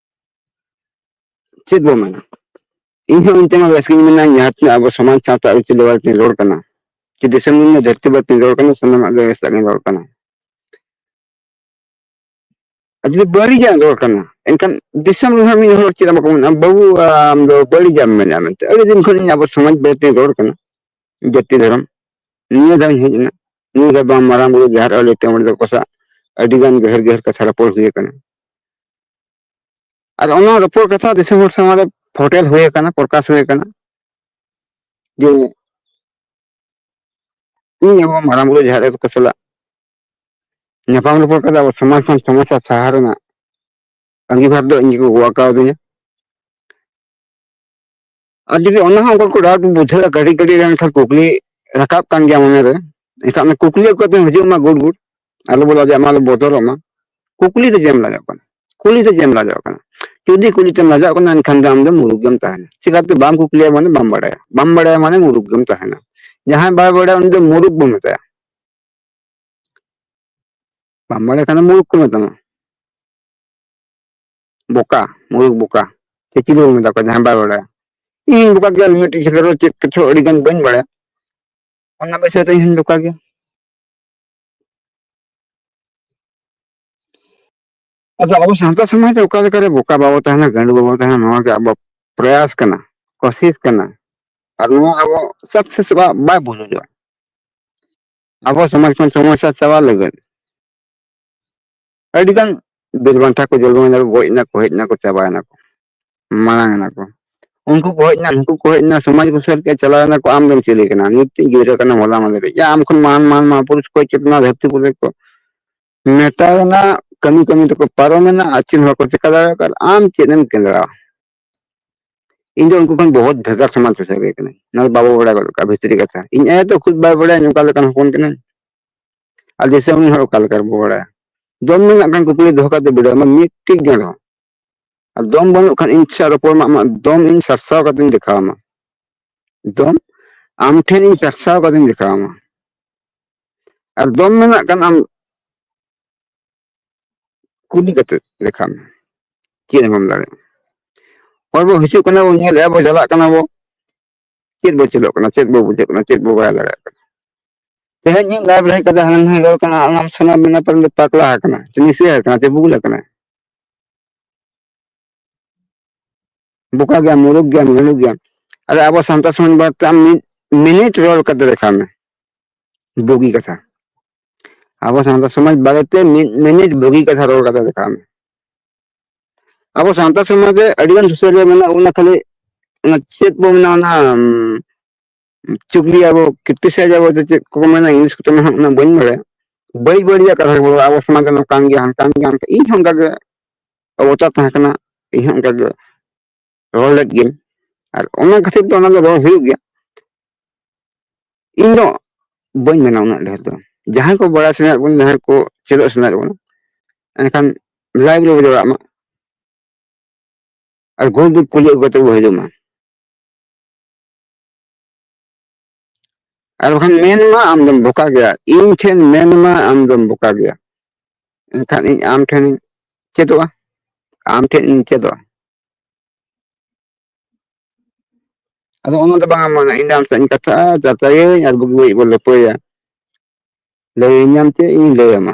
ᱪᱮᱫ ᱵᱚ ᱢᱮᱱᱟ ᱤᱧ ᱦᱚᱸ ᱚᱱᱛᱮ ᱢᱟ ᱵᱮᱥ ᱜᱤᱧ ᱢᱮᱱᱟ ᱡᱟᱦᱟᱸ ᱛᱤᱱᱟᱹᱜ ᱟᱵᱚ ᱥᱚᱢᱟᱡᱽ ᱥᱟᱶᱛᱟ ᱟᱹᱨᱤᱪᱟᱹᱞᱤ ᱵᱟᱨᱮ ᱛᱤᱧ ᱨᱚᱲ ᱠᱟᱱᱟ ᱪᱮ ᱫᱤᱥᱚᱢ ᱨᱮᱱᱟᱜ ᱫᱷᱟᱹᱨᱛᱤ ᱵᱟᱨᱮ ᱛᱤᱧ ᱨᱚᱲ ᱠᱟᱱᱟ ᱥᱟᱱᱟᱢᱟᱜ ᱜᱮ ᱵᱮᱥᱟᱜ ᱜᱤᱧ ᱨᱚᱲ ᱠᱟᱱᱟ ᱟᱨ ᱡᱩᱫᱤ ᱵᱟᱹᱲᱤᱡᱟᱜ ᱨᱚᱲ ᱠᱟᱱᱟ ᱮᱱᱠᱷᱟᱱ ᱫᱤᱥᱚᱢ ᱨᱮᱦᱚᱸ ᱢᱤᱫ ᱦᱚᱲ ᱪᱮᱫ ᱵᱟᱠᱚ ᱢᱮᱱᱟ ᱵᱟᱹᱵᱩ ᱟᱢ ᱫᱚ ᱵᱟᱹᱲᱤᱡᱟᱜ ᱮᱢ ᱢᱮᱱᱟ ᱢᱮᱱᱛᱮ ᱟᱹᱰᱤ ᱫᱤᱱ ᱠᱷᱚᱱ ᱤᱧ ᱟᱵᱚ ᱥᱚᱢᱟᱡᱽ ᱵᱟᱨᱮ ᱛᱤᱧ ᱨᱚᱲ ᱠᱟᱱᱟ ᱡᱟᱹᱛᱤ ᱫᱷᱚᱨᱚᱢ ᱱᱤᱭᱟᱹ ᱫᱷᱟᱣ ᱤᱧ ᱦᱮᱡ ᱮᱱᱟ ᱱᱤᱭᱟᱹ ᱫᱷᱟᱣ ᱵᱟᱝ ᱢᱟᱨᱟᱝ ᱵᱩᱨᱩ ᱡᱟᱦᱮᱨ ᱟᱹᱞᱤ ᱴᱮᱢᱚᱲ ᱫᱚ ᱠᱚᱥᱟ ᱟᱹᱰᱤ ᱜᱟᱱ ᱜᱟᱹᱦᱤᱨ ᱜᱟᱹᱦᱤᱨ ᱠᱟᱛᱷᱟ ᱨᱚᱯᱚᱲ ᱦᱩᱭ ᱟᱠᱟᱱᱟ ᱟᱨ ᱚᱱᱟ ᱨᱚᱯᱚᱲ ᱠᱟᱛᱷᱟ ᱫᱤᱥᱚᱢ ᱦᱚᱲ ᱥᱟᱢᱟᱝ ᱨᱮ ᱯᱷᱚᱴᱮᱞ ᱦᱩᱭ ᱟᱠᱟᱱᱟ ᱯᱨᱚᱠᱟᱥ ᱦᱩᱭ ᱟᱠᱟᱱᱟ ᱡᱮ ᱤᱧ ᱟᱵᱚ ᱢᱟᱨᱟᱝ ᱵᱩᱨᱩ ᱡᱟᱦᱮᱨ ᱟᱭᱳ ᱠᱚ ᱥᱟᱞᱟᱜ ᱧᱟᱯᱟᱢ ᱨᱚᱯᱚᱲ ᱠᱟᱛᱮ ᱟᱵᱚ ᱥᱚᱢᱟᱡᱽ ᱠᱷᱚᱱ ᱥᱚᱢᱚᱥᱥᱟ ᱥᱟᱦᱟ ᱨᱮᱱᱟᱜ ᱟᱸᱜᱤᱵᱷᱟᱨ ᱫᱚ ᱤᱧ ᱜᱮᱠᱚ ᱜᱚᱜ ᱟᱠᱟᱣᱫᱤᱧᱟ ᱟᱨ ᱡᱩᱫᱤ ᱚᱱᱟ ᱦᱚᱸ ᱚᱱᱠᱟ ᱠᱚ ᱰᱟᱣᱩᱴ ᱵᱩᱡᱷᱟᱹᱜᱼᱟ ᱠᱟᱹᱴᱤᱡ ᱠᱟᱹᱴᱤᱡ ᱨᱮ ᱮᱱᱠᱷᱟᱱ ᱠᱩᱠᱞᱤ ᱨᱟᱠᱟᱵ ᱠᱟᱱ ᱜᱮᱭᱟ ᱢᱚᱱᱮ ᱨᱮ ᱮᱱᱠᱷᱟᱱ ᱚᱱᱟ ᱠᱩᱠᱞᱤ ᱟᱹᱜᱩ ᱠᱟᱛᱮ ᱦᱤᱡᱩᱜ ᱢᱟ ᱜᱩᱰ ᱜᱩᱰ ᱟᱞᱚ ᱵᱚ ᱞᱟᱡᱟᱜ ᱢᱟ ᱟᱞᱚ ᱵᱚᱛᱚᱨᱚᱜ ᱢᱟ ᱠᱩᱠᱞᱤ ᱛᱮ ᱡᱮᱢ ᱞᱟᱡᱟᱜ ᱠᱟᱱᱟ ᱠᱩᱞᱤ ᱛᱮ ᱡᱮᱢ ᱞᱟᱡᱟᱜ ᱠᱟᱱᱟ ᱡᱩᱫᱤ ᱠᱩᱞᱤ ᱛᱮᱢ ᱞᱟᱡᱟᱜ ᱠᱟᱱᱟ ᱮᱱᱠᱷᱟᱱ ᱫᱚ ᱟᱢ ᱫᱚ ᱢᱩᱨᱩᱠ ᱜᱮᱢ ᱛᱟᱦᱮᱱᱟ ᱪᱤᱠᱟᱛᱮ ᱵᱟᱢ ᱠᱩᱠᱞᱤᱭᱟ ᱢᱟᱱᱮ ᱵᱟᱢ ᱵᱟᱲᱟᱭᱟ ᱵᱟᱢ ᱵᱟᱲᱟᱭᱟ ᱢᱟᱱᱮ ᱢᱩᱨᱩᱠ ᱜᱮᱢ ᱛᱟᱦᱮᱱᱟ ᱡᱟᱦᱟᱸᱭ ᱵᱟᱭ ᱵᱟᱲᱟᱭᱟ ᱩᱱᱤ ᱫᱚ ᱢᱩᱨᱩᱠ ᱵᱚ ᱢᱮᱛᱟᱭᱟ ᱵᱟᱢ ᱵᱟᱲᱟᱭ ᱠᱷᱟᱱ ᱫᱚ ᱢᱩᱨᱩᱠ ᱠᱚ ᱢᱮᱛᱟᱢᱟ ᱵᱚᱠᱟ ᱢᱩᱨᱩᱠ ᱵᱚᱠᱟ ᱥᱮ ᱪᱤᱞᱤ ᱵᱚᱱ ᱢᱮᱛᱟ ᱠᱚᱣᱟ ᱡᱟᱦᱟᱸᱭ ᱵᱟᱭ ᱵᱟᱲᱟᱭᱟ ᱤᱧ ᱵᱚᱠᱟ ᱜᱮᱭᱟ ᱢᱤᱫᱴᱤᱡ ᱠᱷᱮᱛᱨᱮ ᱨᱮ ᱪᱮᱫ ᱠᱤᱪᱷᱩ ᱟᱹᱰᱤ ᱜᱟᱱ ᱵᱟᱹᱧ ᱵᱟᱲᱟᱭᱟ ᱚᱱᱟ ᱵᱤᱥᱚᱭ ᱛᱮ ᱤᱧ ᱦᱚᱧ ᱵᱚᱠᱟ ᱜᱮᱭᱟ ᱟᱫᱚ ᱟᱵᱚ ᱥᱟᱶᱛᱟ ᱥᱚᱢᱟᱡᱽ ᱨᱮ ᱚᱠᱟ ᱞᱮᱠᱟᱨᱮ ᱵᱚᱠᱟ ᱵᱟᱵᱚ ᱛᱟᱦᱮᱱᱟ ᱜᱟᱹᱰᱩ ᱵᱟᱵᱚ ᱛᱟᱦᱮᱱᱟ ᱱᱚᱣᱟ ᱜᱮ ᱟᱵᱚ ᱯᱨᱚᱭᱟᱥ ᱠᱟᱱᱟ ᱠᱚᱥᱤᱥ ᱠᱟᱱᱟ ᱟᱨ ᱱᱚᱣᱟ ᱟᱵᱚ ᱥᱟᱠᱥᱮᱥ ᱵᱟᱭ ᱵᱩᱡᱷᱟᱹᱣᱟ ᱟᱵᱚ ᱥᱚᱢᱟᱡᱽ ᱠᱷᱚᱱ ᱥᱚᱢᱚᱥᱥᱟ ᱪᱟᱵᱟ ᱞᱟᱹᱜᱤᱫ ᱟᱹᱰᱤ ᱜᱟᱱ ᱵᱤᱨ ᱵᱟᱱᱴᱟ ᱠᱚ ᱡᱚᱞᱢᱚ ᱮᱱᱟ ᱠᱚ ᱜᱚᱡ ᱮᱱᱟ ᱠᱚ ᱦᱮᱡ ᱮᱱᱟ ᱠᱚ ᱪᱟᱵᱟᱭᱮᱱᱟ ᱠᱚ ᱢᱟᱲᱟᱝ ᱮᱱᱟ ᱠᱚ ᱩᱱᱠᱩ ᱠᱚ ᱦᱮᱡ ᱮᱱᱟ ᱱᱩᱠᱩ ᱠᱚ ᱦᱮᱡ ᱮᱱᱟ ᱥᱚᱢᱟᱡᱽ ᱠᱚ ᱥᱮᱫ ᱠᱮᱫ ᱪᱟᱞᱟᱣ ᱮᱱᱟ ᱠᱚ ᱟᱢ ᱫᱚᱢ ᱪᱤᱞᱤ ᱠᱟᱱᱟ ᱱᱤᱛ ᱜᱤᱫᱽᱨᱟᱹ ᱠᱟᱱᱟᱢ ᱦᱚᱞᱟ ᱢᱟᱫᱷᱮᱨ ᱭᱟ ᱟᱢ ᱠᱷᱚᱱ ᱢᱟᱱ ᱢᱟᱱ ᱢᱟ ᱯᱩᱨᱩᱥ ᱠᱚ ᱪᱮᱫ ᱱᱚᱣᱟ ᱫᱷᱟᱹᱨᱛᱤ ᱯᱩᱨᱤ ᱠᱚ ᱢᱮᱴᱟᱣ ᱮᱱᱟ ᱠᱟᱹᱢᱤ ᱠᱟᱹᱢᱤ ᱛᱮᱠᱚ ᱯᱟᱨᱚᱢᱮᱱᱟ ᱟᱨ ᱪᱮᱫ ᱦᱚᱸ ᱵᱟᱠᱚ ᱪᱮᱠᱟ ᱫᱟᱲᱮᱭᱟᱜ ᱠᱟᱱᱟ ᱟᱢ ᱪᱮᱫ ᱮᱢ ᱠᱮᱸᱫᱽᱨᱟᱣᱟ ᱤᱧ ᱫᱚ ᱩᱱᱠᱩ ᱠᱷᱚᱱ ᱵᱚᱦᱩᱛ ᱵᱷᱮᱜᱟᱨ ᱥᱚᱢᱟᱡᱽ ᱥᱩᱥᱟᱹᱨ ᱜᱮ ᱠᱟᱹᱱᱟᱹᱧ ᱚᱱᱟ ᱫᱚ ᱵᱟᱵᱚ ᱵᱟᱲᱟᱭ ᱜᱚᱫ ᱠᱟᱜᱼᱟ ᱵᱷᱤᱛᱨᱤ ᱠᱟᱛᱷᱟ ᱤᱧ ᱟᱭᱳ ᱫᱚ ᱠᱷᱩᱫ ᱵᱟᱭ ᱵᱟᱲᱟᱭᱟ ᱚᱠᱟ ᱞᱮᱠᱟᱱ ᱦᱚᱯᱚᱱ ᱠᱟᱹᱱᱟᱹᱧ ᱟᱨ ᱫᱤᱥᱚᱢ ᱨᱮᱱ ᱦᱚᱲ ᱚᱠᱟ ᱞᱮᱠᱟ ᱵᱚ ᱵᱟᱲᱟᱭᱟ ᱫᱚᱢ ᱢᱮᱱᱟᱜ ᱠᱷᱟᱱ ᱠᱩᱠᱞᱤ ᱫᱚᱦᱚ ᱠᱟᱛᱮ ᱵᱤᱰᱟᱹᱣ ᱢᱮ ᱢᱤᱫᱴᱤᱡ ᱜᱟᱱ ᱨᱮᱦᱚᱸ ᱟᱨ ᱫᱚᱢ ᱵᱟᱹᱱᱩᱜ ᱠᱷᱟᱱ ᱤᱧ ᱥᱟᱶ ᱨᱚᱯᱚᱲ ᱢᱟ ᱟᱢᱟᱜ ᱫᱚᱢ ᱤᱧ ᱥᱟᱨᱥᱟᱣ ᱠᱟᱛᱮᱧ ᱫᱮᱠᱷᱟᱣ ᱟᱢᱟ ᱫᱚᱢ ᱟᱢ ᱴᱷᱮᱱ ᱤᱧ ᱥᱟᱨᱥᱟᱣ ᱠᱟᱛᱮᱧ ᱫᱮᱠᱷᱟᱣ ᱟᱢᱟ ᱟᱨ ᱫᱚᱢ ᱢᱮᱱᱟᱜ ᱠᱷᱟᱱ ᱟᱢ ᱠᱩᱞᱤ ᱠᱟᱛᱮ ᱞᱮᱠᱷᱟᱱ ᱪᱮᱫ ᱮᱢ ᱮᱢ ᱫᱟᱲᱮᱭᱟᱜᱼᱟ ᱦᱚᱲ ᱵᱚ ᱦᱤᱡᱩᱜ ᱠᱟᱱᱟ ᱵᱚ ᱧᱮᱞᱮᱫᱼᱟ ᱵᱚ ᱪᱟᱞᱟᱜ ᱠᱟᱱᱟ ᱵᱚ ᱪᱮᱫ ᱵᱚ ᱪᱮᱫᱚᱜ ᱠᱟᱱᱟ ᱪᱮᱫ ᱵᱚ ᱵᱩᱡᱷᱟᱹᱜ ᱠᱟᱱᱟ ᱪᱮᱫ ᱵᱚ ᱵᱟᱲᱟᱭ ᱫᱟᱲᱮᱭᱟᱜ ᱠᱟᱱᱟ ᱛᱮᱦᱮᱧ ᱤᱧ ᱞᱟᱭᱤᱵ ᱨᱮ ᱠᱟᱛᱮ ᱦᱟᱱᱟ ᱱᱟᱣᱟ ᱨᱚᱲ ᱠᱟᱱᱟ ᱟᱢ ᱥᱟᱱᱟ ᱢᱮᱱᱟ ᱯᱟᱨ ᱫᱚ ᱯᱟᱠᱞᱟ ᱟᱠᱟᱱᱟ ᱥᱮ ᱱᱤᱥᱟᱹ ᱟᱠᱟᱱᱟ ᱥᱮ ᱵᱩᱞ ᱟᱠᱟᱱᱟ ᱵᱚᱠᱟ ᱜᱮᱭᱟᱢ ᱢᱩᱨᱩᱠ ᱜᱮᱭᱟᱢ ᱜᱷᱟᱹᱞᱩ ᱜᱮᱭᱟᱢ ᱟᱫᱚ ᱟᱵᱚ ᱥᱟᱱᱛᱟᱲ ᱥᱚᱢᱟᱡᱽ ᱵᱟᱨᱮᱛᱮ ᱟᱢ ᱢᱤᱫ ᱢᱤᱱᱤᱴ ᱨᱚᱲ ᱠᱟᱛᱮ ᱞᱮᱠᱷᱟᱱ ᱵᱩᱜᱤ ᱠᱟᱛᱷᱟ ᱟᱵᱚ ᱥᱟᱶᱛᱟ ᱥᱚᱢᱟᱡᱽ ᱵᱟᱨᱮᱛᱮ ᱢᱤᱫ ᱢᱤᱱᱤᱴ ᱵᱩᱜᱤ ᱠᱟᱛᱷᱟ ᱨᱚᱲ ᱠᱟᱛᱮ ᱫᱮᱠᱷᱟᱣ ᱢᱮ ᱟᱵᱚ ᱥᱟᱶᱛᱟ ᱥᱚᱢᱟᱡᱽ ᱨᱮ ᱟᱹᱰᱤᱜᱟᱱ ᱥᱩᱥᱟᱹᱨᱤᱭᱟᱹ ᱢᱮᱱᱟᱜ ᱵᱚᱱᱟ ᱠᱷᱟᱹᱞᱤ ᱚᱱᱟ ᱪᱮᱫ ᱵᱚ ᱢᱮᱱᱟ ᱚᱱᱟ ᱪᱩᱜᱽᱞᱤ ᱟᱵᱚ ᱠᱤᱨᱛᱤᱥᱟᱭ ᱟᱵᱚ ᱪᱮᱫ ᱠᱚ ᱢᱮᱱᱟ ᱤᱝᱞᱤᱥ ᱠᱚᱛᱮ ᱢᱮᱱᱟᱜ ᱚᱱᱟ ᱵᱟᱹᱧ ᱵᱟᱲᱟᱭᱟ ᱵᱟᱹᱲᱤᱡ ᱵᱟᱹᱲᱤᱡᱟᱜ ᱠᱟᱛᱷᱟ ᱠᱚ ᱟᱵᱚ ᱥᱚᱢᱟᱡᱽ ᱨᱮ ᱱᱚᱝᱠᱟᱱ ᱜᱮᱭᱟ ᱦᱟᱱᱠᱟᱱ ᱜᱮᱭᱟ ᱤᱧ ᱦᱚᱸ ᱚᱱᱠᱟᱜᱮ ᱚᱵᱚᱛᱟ ᱛᱟᱦᱮᱸ ᱠᱟᱱᱟ ᱤᱧ ᱦᱚᱸ ᱚᱱᱠᱟᱜᱮ ᱨᱚᱲ ᱞᱮᱫ ᱜᱮ ᱟᱨ ᱚᱱᱟ ᱠᱷᱟᱹᱛᱤᱨ ᱫᱚ ᱚᱱᱟ ᱫᱚ ᱨᱚᱲ ᱦᱩᱭᱩᱜ ᱜᱮᱭᱟ ᱤᱧ ᱫᱚ ᱵᱟᱹᱧ ᱢᱮᱱᱟ ᱩᱱᱟᱹᱜ ᱰᱷᱮᱨ ᱫᱚ ᱡᱟᱦᱟᱸᱭ ᱠᱚ ᱵᱟᱲᱟᱭ ᱥᱟᱱᱟᱭᱮᱫ ᱵᱚᱱᱟ ᱡᱟᱦᱟᱸᱭ ᱠᱚ ᱪᱮᱫᱚᱜ ᱥᱟᱱᱟᱭᱮᱫ ᱵᱚᱱᱟ ᱮᱱᱠᱷᱟᱱ ᱞᱟᱭᱤᱵᱽ ᱨᱮᱵᱚ ᱡᱚᱲᱟᱜ ᱢᱟ ᱟᱨ ᱜᱩᱨᱩ ᱫᱩᱯ ᱠᱩᱞᱤ ᱟᱹᱜᱩ ᱠᱟᱛᱮ ᱵᱚ ᱦᱤᱡᱩᱜ ᱢᱟ ᱟᱨ ᱵᱟᱠᱷᱟᱱ ᱢᱮᱱ ᱢᱟ ᱟᱢ ᱫᱚᱢ ᱵᱚᱠᱟ ᱜᱮᱭᱟ ᱤᱧ ᱴᱷᱮᱱ ᱢᱮᱱ ᱢᱟ ᱟᱢ ᱫᱚᱢ ᱵᱚᱠᱟ ᱜᱮᱭᱟ ᱮᱱᱠᱷᱟᱱ ᱤᱧ ᱟᱢ ᱴᱷᱮᱱ ᱪᱮᱫᱚᱜᱼᱟ ᱟᱢ ᱴᱷᱮᱱ ᱤᱧ ᱪᱮᱫᱚᱜᱼᱟ ᱟᱫᱚ ᱚᱱᱟ ᱫᱚ ᱵᱟᱝ ᱢᱟᱱᱟ ᱤᱧ ᱫᱚ ᱟᱢ ᱥᱟᱶ ᱤᱧ ᱠᱟᱛᱷᱟᱜᱼᱟ ᱪᱟᱨᱪᱟᱭᱟᱹᱧ ᱟᱨ ᱵᱩᱜᱤ ᱵᱟᱹᱲᱤᱡ ᱵᱚᱱ ᱞᱟᱹᱯᱟᱹᱭᱟ ᱞᱟᱹᱭᱟᱹᱧᱟᱢ ᱪᱮᱫ ᱤᱧ ᱞᱟᱹᱭᱟᱢᱟ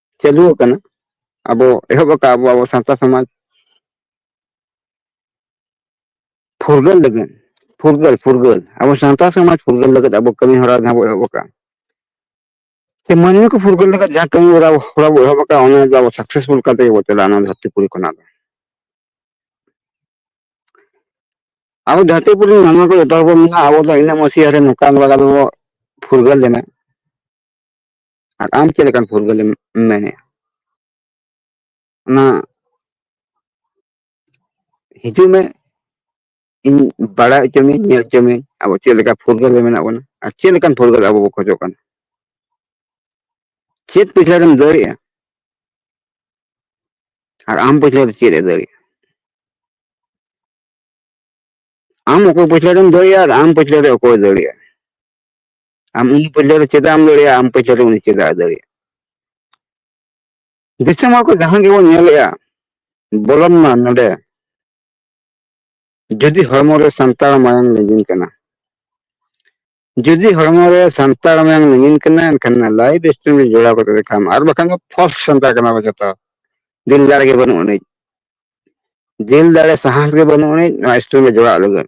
ᱪᱟᱹᱞᱩ ᱟᱠᱟᱱᱟ ᱟᱵᱚ ᱮᱦᱚᱵ ᱟᱠᱟᱫ ᱟᱵᱚ ᱟᱵᱚ ᱥᱟᱶᱛᱟ ᱥᱚᱢᱟᱡᱽ ᱯᱷᱩᱨᱜᱟᱹᱞ ᱞᱟᱹᱜᱤᱫ ᱯᱷᱩᱨᱜᱟᱹᱞ ᱯᱷᱩᱨᱜᱟᱹᱞ ᱟᱵᱚ ᱥᱟᱶᱛᱟ ᱥᱚᱢᱟᱡᱽ ᱯᱷᱩᱨᱜᱟᱹᱞ ᱞᱟᱹᱜᱤᱫ ᱟᱵᱚ ᱠᱟᱹᱢᱤ ᱦᱚᱨᱟ ᱡᱟᱦᱟᱸ ᱵᱚ ᱮᱦᱚᱵ ᱟᱠᱟᱫ ᱥᱮ ᱢᱟᱹᱱᱢᱤ ᱠᱚ ᱯᱷᱩᱨᱜᱟᱹᱞ ᱞᱟᱹᱜᱤᱫ ᱡᱟᱦᱟᱸ ᱠᱟᱹᱢᱤ ᱦᱚᱨᱟ ᱦᱚᱨᱟ ᱵᱚ ᱮᱦᱚᱵ ᱟᱠᱟᱫ ᱚᱱᱟ ᱫᱚ ᱟᱵᱚ ᱥᱟᱠᱥᱮᱥᱯᱷᱩᱞ ᱠᱟᱛᱮ ᱜᱮᱵᱚ ᱪᱟᱞᱟᱜᱼᱟ ᱚᱱᱟ ᱫᱷᱟᱹᱨᱛᱤ ᱯᱩᱨᱤ ᱠᱷᱚᱱᱟᱜ ᱫᱚ ᱟᱵᱚ ᱫᱷᱟᱹᱨᱛᱤ ᱯᱩᱨᱤ ᱢᱟᱹᱱᱢᱤ ᱠᱚ ᱡᱚᱛᱚ ᱦᱚᱲ ᱵᱚ ᱢᱮᱱᱟ ᱟᱵᱚ ᱫᱚ ᱤᱱᱟᱹᱜ ᱢᱚᱥᱤᱭᱟ ᱨᱮ ᱱᱚᱝᱠᱟ ᱱᱚᱝᱠᱟ ᱫᱚᱵᱚ ᱯᱷᱩᱨᱜᱟᱹᱞ ᱞᱮᱱᱟ ᱟᱨ ᱟᱢ ᱪᱮᱫ ᱞᱮᱠᱟᱱ ᱯᱷᱩᱨᱜᱟᱹᱞ ᱮᱢ ᱢᱮᱱᱮᱫᱼᱟ ᱚᱱᱟ ᱦᱤᱡᱩᱜ ᱢᱮ ᱤᱧ ᱵᱟᱲᱟᱭ ᱦᱚᱪᱚ ᱢᱮ ᱧᱮᱞ ᱦᱚᱪᱚ ᱢᱮ ᱟᱵᱚ ᱪᱮᱫ ᱞᱮᱠᱟ ᱯᱷᱩᱨᱜᱟᱹᱞ ᱨᱮ ᱢᱮᱱᱟᱜ ᱵᱚᱱᱟ ᱟᱨ ᱪᱮᱫ ᱞᱮᱠᱟᱱ ᱯᱷᱩᱨᱜᱟᱹᱞ ᱟᱵᱚ ᱵᱚ ᱠᱷᱚᱡᱚᱜ ᱠᱟᱱᱟ ᱪᱮᱫ ᱯᱤᱪᱷᱞᱟᱹ ᱨᱮᱢ ᱫᱟᱹᱲᱮᱜᱼᱟ ᱟᱨ ᱟᱢ ᱯᱤᱪᱷᱞᱟᱹ ᱨᱮ ᱪᱮᱫ ᱮ ᱫᱟᱹᱲᱮᱜᱼᱟ ᱟᱢ ᱚᱠᱚᱭ ᱯᱤᱪᱷᱞᱟᱹ ᱨᱮᱢ ᱫᱟᱹᱲᱮᱜᱼᱟ ᱟᱨ ᱟᱢ ᱯᱤᱪᱷᱞᱟᱹ ᱨᱮ ᱚᱠᱚᱭ ᱫᱟᱹᱲᱮᱜᱼᱟ ᱟᱢ ᱩᱱᱤ ᱯᱟᱹᱪᱷᱞᱟᱹ ᱨᱮ ᱪᱮᱫᱟᱜ ᱮᱢ ᱫᱟᱲᱮᱭᱟᱜᱼᱟ ᱟᱢ ᱯᱟᱹᱪᱷᱞᱟᱹ ᱨᱮ ᱩᱱᱤ ᱪᱮᱫᱟᱜ ᱫᱟᱲᱮᱭᱟᱜᱼᱟ ᱫᱤᱥᱚᱢ ᱦᱚᱲ ᱠᱚ ᱡᱟᱦᱟᱸ ᱜᱮᱵᱚᱱ ᱧᱮᱞᱮᱜᱼᱟ ᱵᱚᱞᱚᱱ ᱢᱟ ᱱᱚᱰᱮ ᱡᱩᱫᱤ ᱦᱚᱲᱢᱚ ᱨᱮ ᱥᱟᱱᱛᱟᱲ ᱢᱟᱭᱟᱝ ᱞᱤᱸᱡᱤᱱ ᱠᱟᱱᱟ ᱡᱩᱫᱤ ᱦᱚᱲᱢᱚ ᱨᱮ ᱥᱟᱱᱛᱟᱲ ᱢᱟᱭᱟᱝ ᱞᱤᱸᱡᱤᱱ ᱠᱟᱱᱟ ᱮᱱᱠᱷᱟᱱ ᱞᱟᱭᱤᱵ ᱥᱴᱨᱤᱢ ᱨᱮ ᱡᱚᱲᱟᱣ ᱠᱟᱛᱮ ᱞᱮᱠᱷᱟᱱ ᱟᱨ ᱵᱟᱠᱷᱟᱱ ᱫᱚ ᱯᱷᱚᱞᱥ ᱥᱟᱱᱛᱟᱲ ᱠᱟᱱᱟ ᱵᱚ ᱡᱚᱛᱚ ᱫᱤᱞ ᱫᱟᱲᱮ ᱜᱮ ᱵᱟᱹᱱᱩᱜ ᱟᱹᱱᱤᱡ ᱫᱤᱞ ᱫᱟᱲᱮ ᱥᱟᱦᱟᱥ ᱜᱮ ᱵᱟᱹᱱᱩᱜ ᱟᱹᱱᱤᱡ ᱱᱚᱣᱟ ᱥᱴᱨᱤᱢ ᱨᱮ ᱡᱚᱲᱟᱜ ᱞᱟᱹᱜᱤᱫ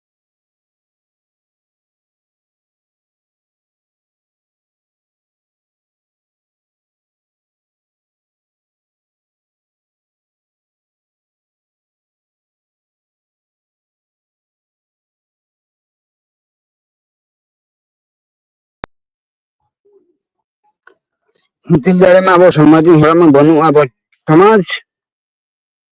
ᱢᱤᱫᱴᱮᱱ ᱫᱟᱲᱮ ᱢᱟ ᱟᱵᱚ ᱥᱚᱢᱟᱡᱽ ᱨᱮᱱ ᱦᱚᱲᱟᱜ ᱢᱟ ᱵᱟᱹᱱᱩᱜᱼᱟ ᱟᱵᱚ ᱥᱚᱢᱟᱡᱽ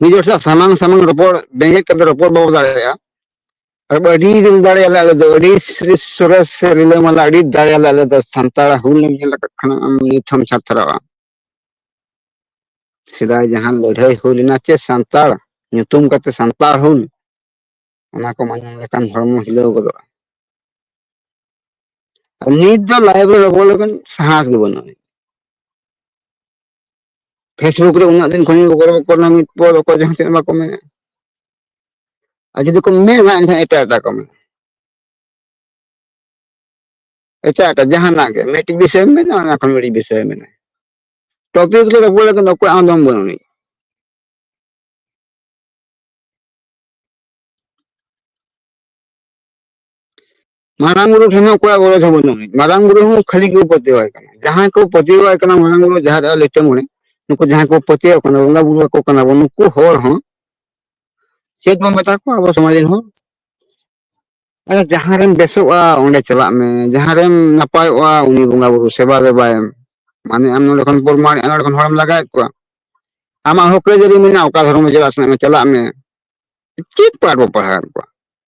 ᱢᱤᱫ ᱦᱚᱲ ᱥᱟᱶ ᱥᱟᱢᱟᱝ ᱥᱟᱢᱟᱝ ᱨᱚᱯᱚᱲ ᱵᱮᱸᱜᱮᱫ ᱠᱟᱛᱮ ᱨᱚᱯᱚᱲ ᱵᱟᱵᱚ ᱫᱟᱲᱮᱭᱟᱜᱼᱟ ᱟᱨ ᱟᱹᱰᱤ ᱫᱤᱞ ᱫᱟᱲᱮᱭᱟᱞᱮ ᱟᱞᱮ ᱫᱚ ᱟᱹᱰᱤ ᱥᱨᱤ ᱥᱚᱨᱮᱥ ᱥᱮ ᱨᱤᱞᱟᱹᱢᱟᱞᱟ ᱟᱹᱰᱤ ᱫᱟᱲᱮᱭᱟᱞᱮ ᱟᱞᱮ ᱫᱚ ᱥᱟᱱᱛᱟᱲ ᱦᱩᱞ ᱮᱢ ᱧᱮᱞ ᱟᱠᱟᱫ ᱠᱷᱟᱱ ᱟᱢ ᱱᱤᱛ ᱦᱚᱢ ᱪᱷᱟᱛᱨᱟᱜᱼᱟ ᱥᱮᱫᱟᱭ ᱡᱟᱦᱟᱸ ᱞᱟᱹᱲᱦᱟᱹᱭ ᱦᱩᱭ ᱞᱮᱱᱟ ᱪᱮ ᱥᱟᱱᱛᱟᱲ ᱧᱩᱛᱩᱢ ᱠᱟᱛᱮ ᱥᱟᱱᱛᱟᱲ ᱦᱩᱞ ᱚᱱᱟ ᱠᱚ ᱢᱟᱧᱚᱢ ᱞᱮᱠᱷᱟᱱ ᱦᱚᱲᱢᱚ ᱦᱤᱞᱟᱹᱣ ᱜᱚᱫᱚᱜᱼᱟ ᱱᱤᱛ ᱫᱚ ᱞᱟᱭᱤᱵᱽ ᱨᱮ ᱨᱚᱯᱚᱲ ᱞᱮᱠᱷᱟᱱ ᱥᱟᱦᱟᱥ ᱜᱮ ᱵᱟᱹᱱᱩᱜᱼᱟ ᱯᱷᱮᱥᱵᱩᱠ ᱨᱮ ᱩᱱᱟᱹᱜ ᱫᱤᱱ ᱠᱷᱚᱱᱤᱧ ᱜᱚᱲᱚ ᱟᱠᱚ ᱠᱟᱱᱟ ᱱᱤᱛ ᱯᱚᱨ ᱚᱠᱚᱭ ᱡᱟᱦᱟᱸ ᱛᱤᱱᱟᱹᱜ ᱵᱟᱠᱚ ᱢᱮᱱᱟ ᱟᱨ ᱡᱩᱫᱤ ᱠᱚ ᱢᱮᱱᱟ ᱮᱱᱠᱷᱟᱱ ᱮᱴᱟᱜ ᱮᱴᱟᱜ ᱠᱚ ᱢᱮᱱᱟ ᱮᱴᱟᱜ ᱮᱴᱟᱜ ᱡᱟᱦᱟᱱᱟᱜ ᱜᱮ ᱢᱤᱫᱴᱤᱡ ᱵᱤᱥᱚᱭ ᱢᱮᱱᱟ ᱚᱱᱟ ᱠᱷᱚᱱ ᱢᱤᱫᱴᱤᱡ ᱵᱤᱥᱚᱭ ᱢᱮᱱᱟ ᱴᱚᱯᱤᱠ ᱨᱮ ᱨᱚᱯᱚᱲ ᱞᱮᱠᱷᱟᱱ ᱚᱠᱚᱭ ᱟᱢ ᱫᱚᱢ ᱵᱟᱹᱱᱩᱜ ᱢᱟᱨᱟᱝ ᱵᱩᱨᱩ ᱴᱷᱮᱱ ᱦᱚᱸ ᱚᱠᱚᱭᱟᱜ ᱜᱚᱨᱚᱡᱽ ᱦᱚᱸ ᱵᱟᱹᱱᱩᱜ ᱟᱹᱱᱤᱡ ᱢᱟᱨᱟᱝ ᱵᱩᱨᱩ ᱦᱚᱸ ᱠᱷᱟᱹᱞᱤ ᱠᱚ ᱯᱟᱹᱛᱭᱟᱹᱣᱟᱭ ᱠᱟᱱᱟ ᱡᱟᱦᱟᱸᱭ ᱠᱚ ᱯᱟᱹᱛᱭᱟᱹᱣᱟᱭ ᱠᱟᱱᱟ ᱢᱟᱨᱟᱝ ᱵᱩᱨᱩ ᱡᱟᱦᱟᱸ ᱨᱮ ᱞᱤᱴᱟᱹ ᱢᱚᱬᱮ ᱱᱩᱠᱩ ᱡᱟᱦᱟᱸᱭ ᱠᱚ ᱯᱟᱹᱛᱭᱟᱹᱣ ᱠᱟᱱᱟ ᱵᱚᱸᱜᱟ ᱵᱩᱨᱩ ᱟᱠᱚ ᱠᱟᱱᱟ ᱵᱚᱱ ᱱᱩᱠᱩ ᱦᱚᱲ ᱦᱚᱸ ᱪᱮᱫ ᱵᱚᱱ ᱢᱮᱛᱟ ᱠᱚᱣᱟ ᱟᱵᱚ ᱥᱚᱢᱟᱡᱽ ᱨᱮᱱ ᱦᱚᱲ ᱟᱨ ᱡᱟᱦᱟᱸ ᱨᱮᱢ ᱵᱮᱥᱚᱜᱼᱟ ᱚᱸᱰᱮ ᱪᱟᱞᱟᱜ ᱢᱮ ᱡᱟᱦᱟᱸ ᱨᱮᱢ ᱱᱟᱯᱟᱭᱚᱜᱼᱟ ᱩᱱᱤ ᱵᱚᱸᱜᱟ ᱵᱩᱨᱩ ᱥᱮᱵᱟ ᱫᱮᱵᱟᱭᱮᱢ ᱢᱟᱱᱮ ᱟᱢ ᱱᱚᱰᱮ ᱠᱷᱚᱱ ᱯᱨᱚᱢᱟᱱ ᱱᱚᱰᱮ ᱠᱷᱚᱱ ᱦᱚᱲᱮᱢ ᱞᱟᱜᱟᱣᱮᱫ ᱠᱚᱣᱟ ᱟᱢᱟᱜ ᱦᱚᱸᱠ ᱟᱹᱭᱫᱟᱹᱨᱤ ᱢᱮᱱᱟᱜᱼᱟ ᱚᱠᱟ ᱫᱷᱚᱨᱚᱢ ᱪᱟᱞᱟᱜ ᱥᱟᱱᱟᱭᱮᱫ ᱢᱮ ᱪᱟᱞᱟᱜ ᱢᱮ ᱪᱮᱫ ᱯᱟᱴ ᱵᱚ ᱯᱟᱲᱦᱟᱣᱮᱫ ᱠᱚᱣᱟ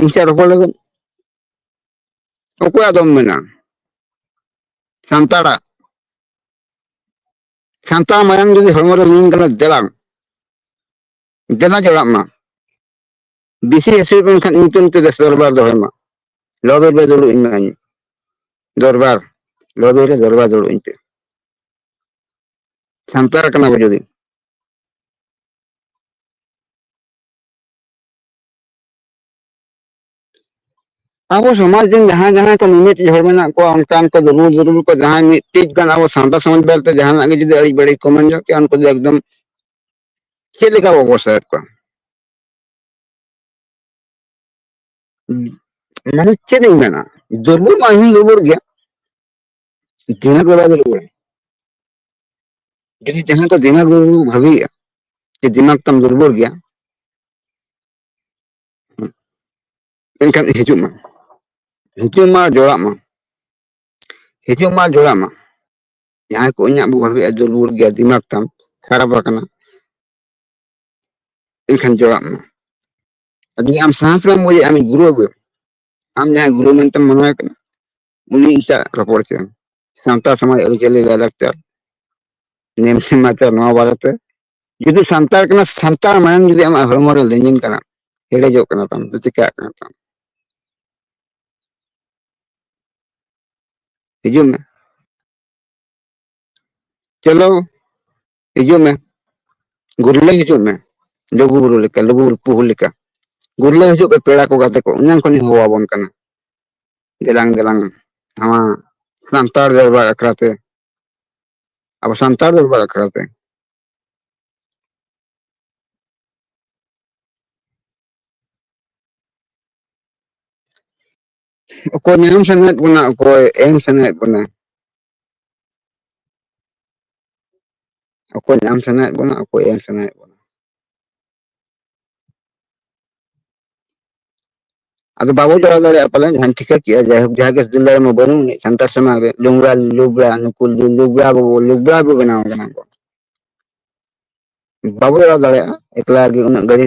ᱤᱧ ᱥᱟᱶ ᱨᱚᱯᱚᱲ ᱞᱟᱹᱜᱤᱫ ᱚᱠᱚᱭᱟᱜ ᱫᱚᱢ ᱢᱮᱱᱟ ᱥᱟᱱᱛᱟᱲᱟᱜ ᱥᱟᱱᱛᱟᱲ ᱢᱟᱭᱟᱝ ᱡᱩᱫᱤ ᱦᱚᱲᱢᱚ ᱨᱮ ᱞᱤᱧ ᱠᱟᱱᱟ ᱫᱮᱞᱟᱝ ᱫᱮᱞᱟ ᱡᱚᱲᱟᱜ ᱢᱟ ᱵᱮᱥᱤ ᱦᱟᱹᱥᱩᱭ ᱢᱮᱱᱠᱷᱟᱱ ᱤᱧ ᱧᱩᱛᱩᱢ ᱛᱮ ᱫᱮᱥ ᱫᱚᱨᱵᱟᱨ ᱫᱚᱦᱚᱭ ᱢᱟ ᱞᱚᱵᱮ ᱨᱮ ᱫᱩᱲᱩᱵ ᱤᱧ ᱢᱮᱱᱟᱧ ᱫᱚᱨᱵᱟᱨ ᱞᱚᱵᱮ ᱨᱮ ᱫᱚᱨᱵᱟᱨ ᱫᱩᱲᱩᱵ ᱤᱧ ᱯᱮ ᱥᱟᱱᱛᱟᱲ ᱠᱟᱱᱟ ᱵᱚ ᱡᱩᱫᱤ ᱟᱵᱚ ᱥᱚᱢᱟᱡᱽ ᱨᱮᱱ ᱡᱟᱦᱟᱸᱭ ᱡᱟᱦᱟᱸᱭ ᱠᱚ ᱢᱤᱢᱤᱫ ᱦᱚᱲ ᱢᱮᱱᱟᱜ ᱠᱚᱣᱟ ᱚᱱᱠᱟᱱ ᱠᱚ ᱫᱩᱨᱵᱚᱞ ᱫᱩᱨᱵᱚᱞ ᱠᱚ ᱡᱟᱦᱟᱸᱭ ᱢᱤᱫᱴᱤᱡ ᱜᱟᱱ ᱟᱵᱚ ᱥᱟᱶᱛᱟ ᱥᱚᱢᱟᱡᱽ ᱵᱟᱨᱮᱛᱮ ᱡᱟᱦᱟᱱᱟᱜ ᱜᱮ ᱡᱩᱫᱤ ᱟᱹᱲᱤᱡ ᱵᱟᱹᱲᱤᱡ ᱠᱚ ᱢᱮᱱ ᱧᱚᱜ ᱠᱮᱭᱟ ᱩᱱᱠᱩ ᱫᱚ ᱮᱠᱫᱚᱢ ᱪᱮᱫ ᱞᱮᱠᱟ ᱵᱚ ᱚᱵᱚᱥᱛᱟᱭᱮᱫ ᱠᱚᱣᱟ ᱢᱟᱱᱮ ᱪᱮᱫ ᱤᱧ ᱢᱮᱱᱟ ᱫᱩᱨᱵᱚᱞ ᱢᱟ ᱤᱧ ᱫᱩᱨᱵᱚᱞ ᱜᱮᱭᱟ ᱫᱤᱱᱟᱹᱜ ᱫᱚ ᱵᱟᱭ ᱫᱩᱲᱩᱵ-ᱟ ᱡᱩᱫᱤ ᱡᱟᱦᱟᱸᱭ ᱠᱚ ᱫᱤᱢᱟᱠ ᱨᱩᱣᱟᱹ ᱠᱚ ᱵᱷᱟᱹᱵᱤᱭᱮᱫᱼᱟ ᱡᱮ ᱫᱤᱢᱟᱠ ᱛᱟᱢ ᱫᱩᱨᱵᱚᱞ ᱜᱮᱭᱟ ᱮᱱᱠᱷᱟᱱ ᱦᱤᱡᱩᱜ ᱢᱟ ᱦᱤᱡᱩᱜ ᱢᱟ ᱡᱚᱲᱟᱜ ᱢᱟ ᱦᱤᱡᱩᱜ ᱢᱟ ᱡᱚᱲᱟᱜ ᱢᱟ ᱡᱟᱦᱟᱸᱭ ᱠᱚ ᱤᱧᱟᱹᱜ ᱵᱚ ᱵᱷᱟᱹᱵᱤᱭᱮᱫᱼᱟ ᱫᱩᱨᱵᱚᱞ ᱜᱮᱭᱟ ᱫᱤᱢᱟᱠ ᱛᱟᱢ ᱠᱷᱟᱨᱟᱯ ᱟᱠᱟᱱᱟ ᱮᱱᱠᱷᱟᱱ ᱡᱚᱲᱟᱜ ᱢᱟ ᱟᱨ ᱡᱩᱫᱤ ᱟᱢ ᱥᱟᱦᱟᱥ ᱵᱟᱢ ᱵᱩᱡᱮᱫᱼᱟ ᱟᱢᱤᱡ ᱜᱩᱨᱩ ᱟᱹᱜᱩᱭᱮᱢ ᱟᱢ ᱡᱟᱦᱟᱸᱭ ᱜᱩᱨᱩ ᱢᱮᱱᱛᱮᱢ ᱢᱚᱱᱮᱭᱮ ᱠᱟᱱᱟ ᱩᱱᱤ ᱤᱧ ᱥᱟᱶ ᱨᱚᱯᱚᱲ ᱦᱚᱪᱚᱭᱮᱢ ᱥᱟᱶᱛᱟ ᱥᱚᱢᱟᱡᱽ ᱟᱹᱨᱤᱪᱟᱹᱞᱤ ᱞᱟᱭᱼᱞᱟᱠᱪᱟᱨ ᱱᱮᱢ ᱱᱮᱢᱟᱪᱟᱨ ᱱᱚᱣᱟ ᱵᱟᱨᱮᱛᱮ ᱡᱩᱫᱤ ᱥᱟᱱᱛᱟᱲ ᱠᱟᱱᱟ ᱥᱟᱱᱛᱟᱲ ᱢᱟᱭᱟᱢ ᱡᱩᱫᱤ ᱟᱢᱟᱜ ᱦᱚᱲᱢᱚ ᱨᱮ ᱞᱤᱸᱡᱤᱱ ᱠᱟᱱᱟ ᱦᱮᱰᱮᱡᱚᱜ ᱠᱟᱱᱟ ᱛᱟᱢ ᱛᱚ ᱪᱤᱠᱟᱹᱜ ᱠᱟᱱᱟ ᱛᱟᱢ ᱦᱤᱡᱩᱜ ᱢᱮ ᱪᱚᱞᱚ ᱦᱤᱡᱩᱜ ᱢᱮ ᱜᱩᱨᱞᱟᱹ ᱦᱤᱡᱩᱜ ᱢᱮ ᱞᱩᱜᱩ ᱵᱩᱨᱩ ᱞᱮᱠᱟ ᱞᱩᱜᱩ ᱵᱩᱨᱩ ᱯᱩᱦᱩ ᱞᱮᱠᱟ ᱜᱩᱨᱞᱟᱹ ᱦᱤᱡᱩᱜ ᱯᱮ ᱯᱮᱲᱟ ᱠᱚ ᱜᱟᱛᱮ ᱠᱚ ᱮᱱᱟᱝ ᱠᱷᱚᱱᱤᱧ ᱦᱚᱦᱚ ᱟᱵᱚᱱ ᱠᱟᱱᱟ ᱫᱮᱞᱟᱝ ᱫᱮᱞᱟᱝ ᱱᱚᱣᱟ ᱥᱟᱱᱛᱟᱲ ᱫᱚᱨᱵᱟᱨ ᱟᱠᱷᱲᱟ ᱛᱮ ᱟᱵᱚ ᱥᱟᱱᱛᱟᱲ ᱫᱚᱨᱵᱟᱨ ᱟᱠᱷᱲᱟ ᱛᱮ ᱚᱠᱚᱭ ᱧᱟᱢ ᱥᱟᱱᱟᱭᱮᱫ ᱵᱚᱱᱟ ᱚᱠᱚᱭ ᱮᱢ ᱥᱟᱱᱟᱭᱮᱫ ᱵᱚᱱᱟ ᱚᱠᱚᱭ ᱧᱟᱢ ᱥᱟᱱᱟᱭᱮᱫ ᱵᱚᱱᱟ ᱚᱠᱚᱭ ᱮᱢ ᱥᱟᱱᱟᱭᱮᱫ ᱵᱚᱱᱟ ᱟᱫᱚ ᱵᱟᱵᱚ ᱫᱟᱲᱟ ᱫᱟᱲᱮᱭᱟᱜᱼᱟ ᱯᱟᱞᱮ ᱡᱟᱦᱟᱸᱧ ᱴᱷᱤᱠᱟᱹ ᱠᱮᱜᱼᱟ ᱡᱟᱭᱦᱳᱠ ᱡᱟᱦᱟᱸ ᱜᱮ ᱫᱤᱞᱞᱟ ᱨᱮᱢᱟ ᱵᱟᱹᱱᱩᱜ ᱟᱹᱱᱤᱡ ᱥᱟᱱᱛᱟᱲ ᱥᱚᱢᱟᱡᱽ ᱨᱮ ᱞᱩᱝᱜᱟ ᱞᱩᱵᱽᱲᱟ ᱱᱩᱠᱩ ᱞᱩᱵᱽᱲᱟ ᱵᱟᱵᱚ ᱞᱩᱵᱽᱲᱟ ᱵᱚ ᱵᱮᱱᱟᱣ ᱠᱟᱱᱟ ᱠᱚ ᱵᱟᱵᱚ ᱫᱟᱲᱟ ᱫᱟᱲᱮᱭᱟᱜᱼᱟ ᱮᱠᱞᱟ ᱜᱮ ᱩᱱᱟᱹᱜ ᱜᱟᱹᱲᱤ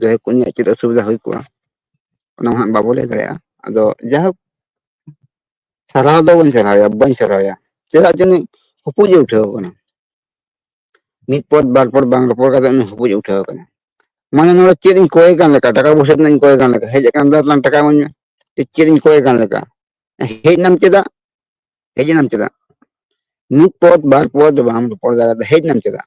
ᱡᱟᱭᱦᱳᱠ ᱩᱱᱤᱭᱟᱜ ᱪᱮᱫ ᱚᱥᱩᱵᱤᱫᱷᱟ ᱦᱩᱭ ᱠᱚᱜᱼᱟ ᱚᱱᱟ ᱢᱟ ᱦᱟᱸᱜ ᱵᱟᱵᱚ ᱞᱟᱹᱭ ᱫᱟᱲᱮᱭᱟᱜᱼᱟ ᱟᱫᱚ ᱡᱟᱭᱦᱳᱠ ᱥᱟᱨᱦᱟᱣ ᱫᱚ ᱵᱟᱹᱧ ᱥᱟᱨᱦᱟᱣᱮᱭᱟ ᱵᱟᱹᱧ ᱥᱟᱨᱦᱟᱣᱮᱭᱟ ᱪᱮᱫᱟᱜ ᱡᱮ ᱩᱱᱤ ᱦᱩᱯᱩᱡ ᱮ ᱩᱴᱷᱟᱹᱣ ᱟᱠᱟᱱᱟ ᱢᱤᱫ ᱯᱚᱫ ᱵᱟᱨ ᱯᱚᱫ ᱵᱟᱝ ᱨᱚᱯᱚᱲ ᱠᱟᱛᱮ ᱩᱱᱤ ᱦᱩᱯᱩᱡ ᱮ ᱩᱴᱷᱟᱹᱣ ᱟᱠᱟᱱᱟ ᱢᱟᱱᱮ ᱱᱚᱰᱮ ᱪᱮᱫ ᱤᱧ ᱠᱚᱭᱮ ᱠᱟᱱ ᱞᱮᱠᱟ ᱴᱟᱠᱟ ᱯᱚᱭᱥᱟ ᱛᱤᱱᱟᱹᱜ ᱤᱧ ᱠᱚᱭᱮ ᱠᱟᱱ ᱞᱮᱠᱟ ᱦᱮᱡ ᱟᱠᱟᱱ ᱫᱚ ᱞᱟᱝ ᱴᱟᱠᱟ ᱤᱢᱟᱹᱧ ᱢᱮ ᱪᱮᱫ ᱪᱮᱫ ᱤᱧ ᱠᱚᱭᱮ ᱠᱟᱱ ᱞᱮᱠᱟ ᱦᱮᱡ ᱮᱱᱟᱢ ᱪᱮᱫᱟᱜ ᱦᱮᱡ ᱮᱱᱟᱢ ᱪᱮᱫᱟᱜ ᱢᱤᱫ ᱯᱚᱫ ᱵᱟᱨ ᱯᱚᱫ ᱵᱟᱢ ᱨᱚᱯᱚᱲ ᱫᱟᱲᱮᱭᱟᱫᱟ ᱦᱮᱡ ᱮᱱᱟᱢ ᱪᱮᱫᱟᱜ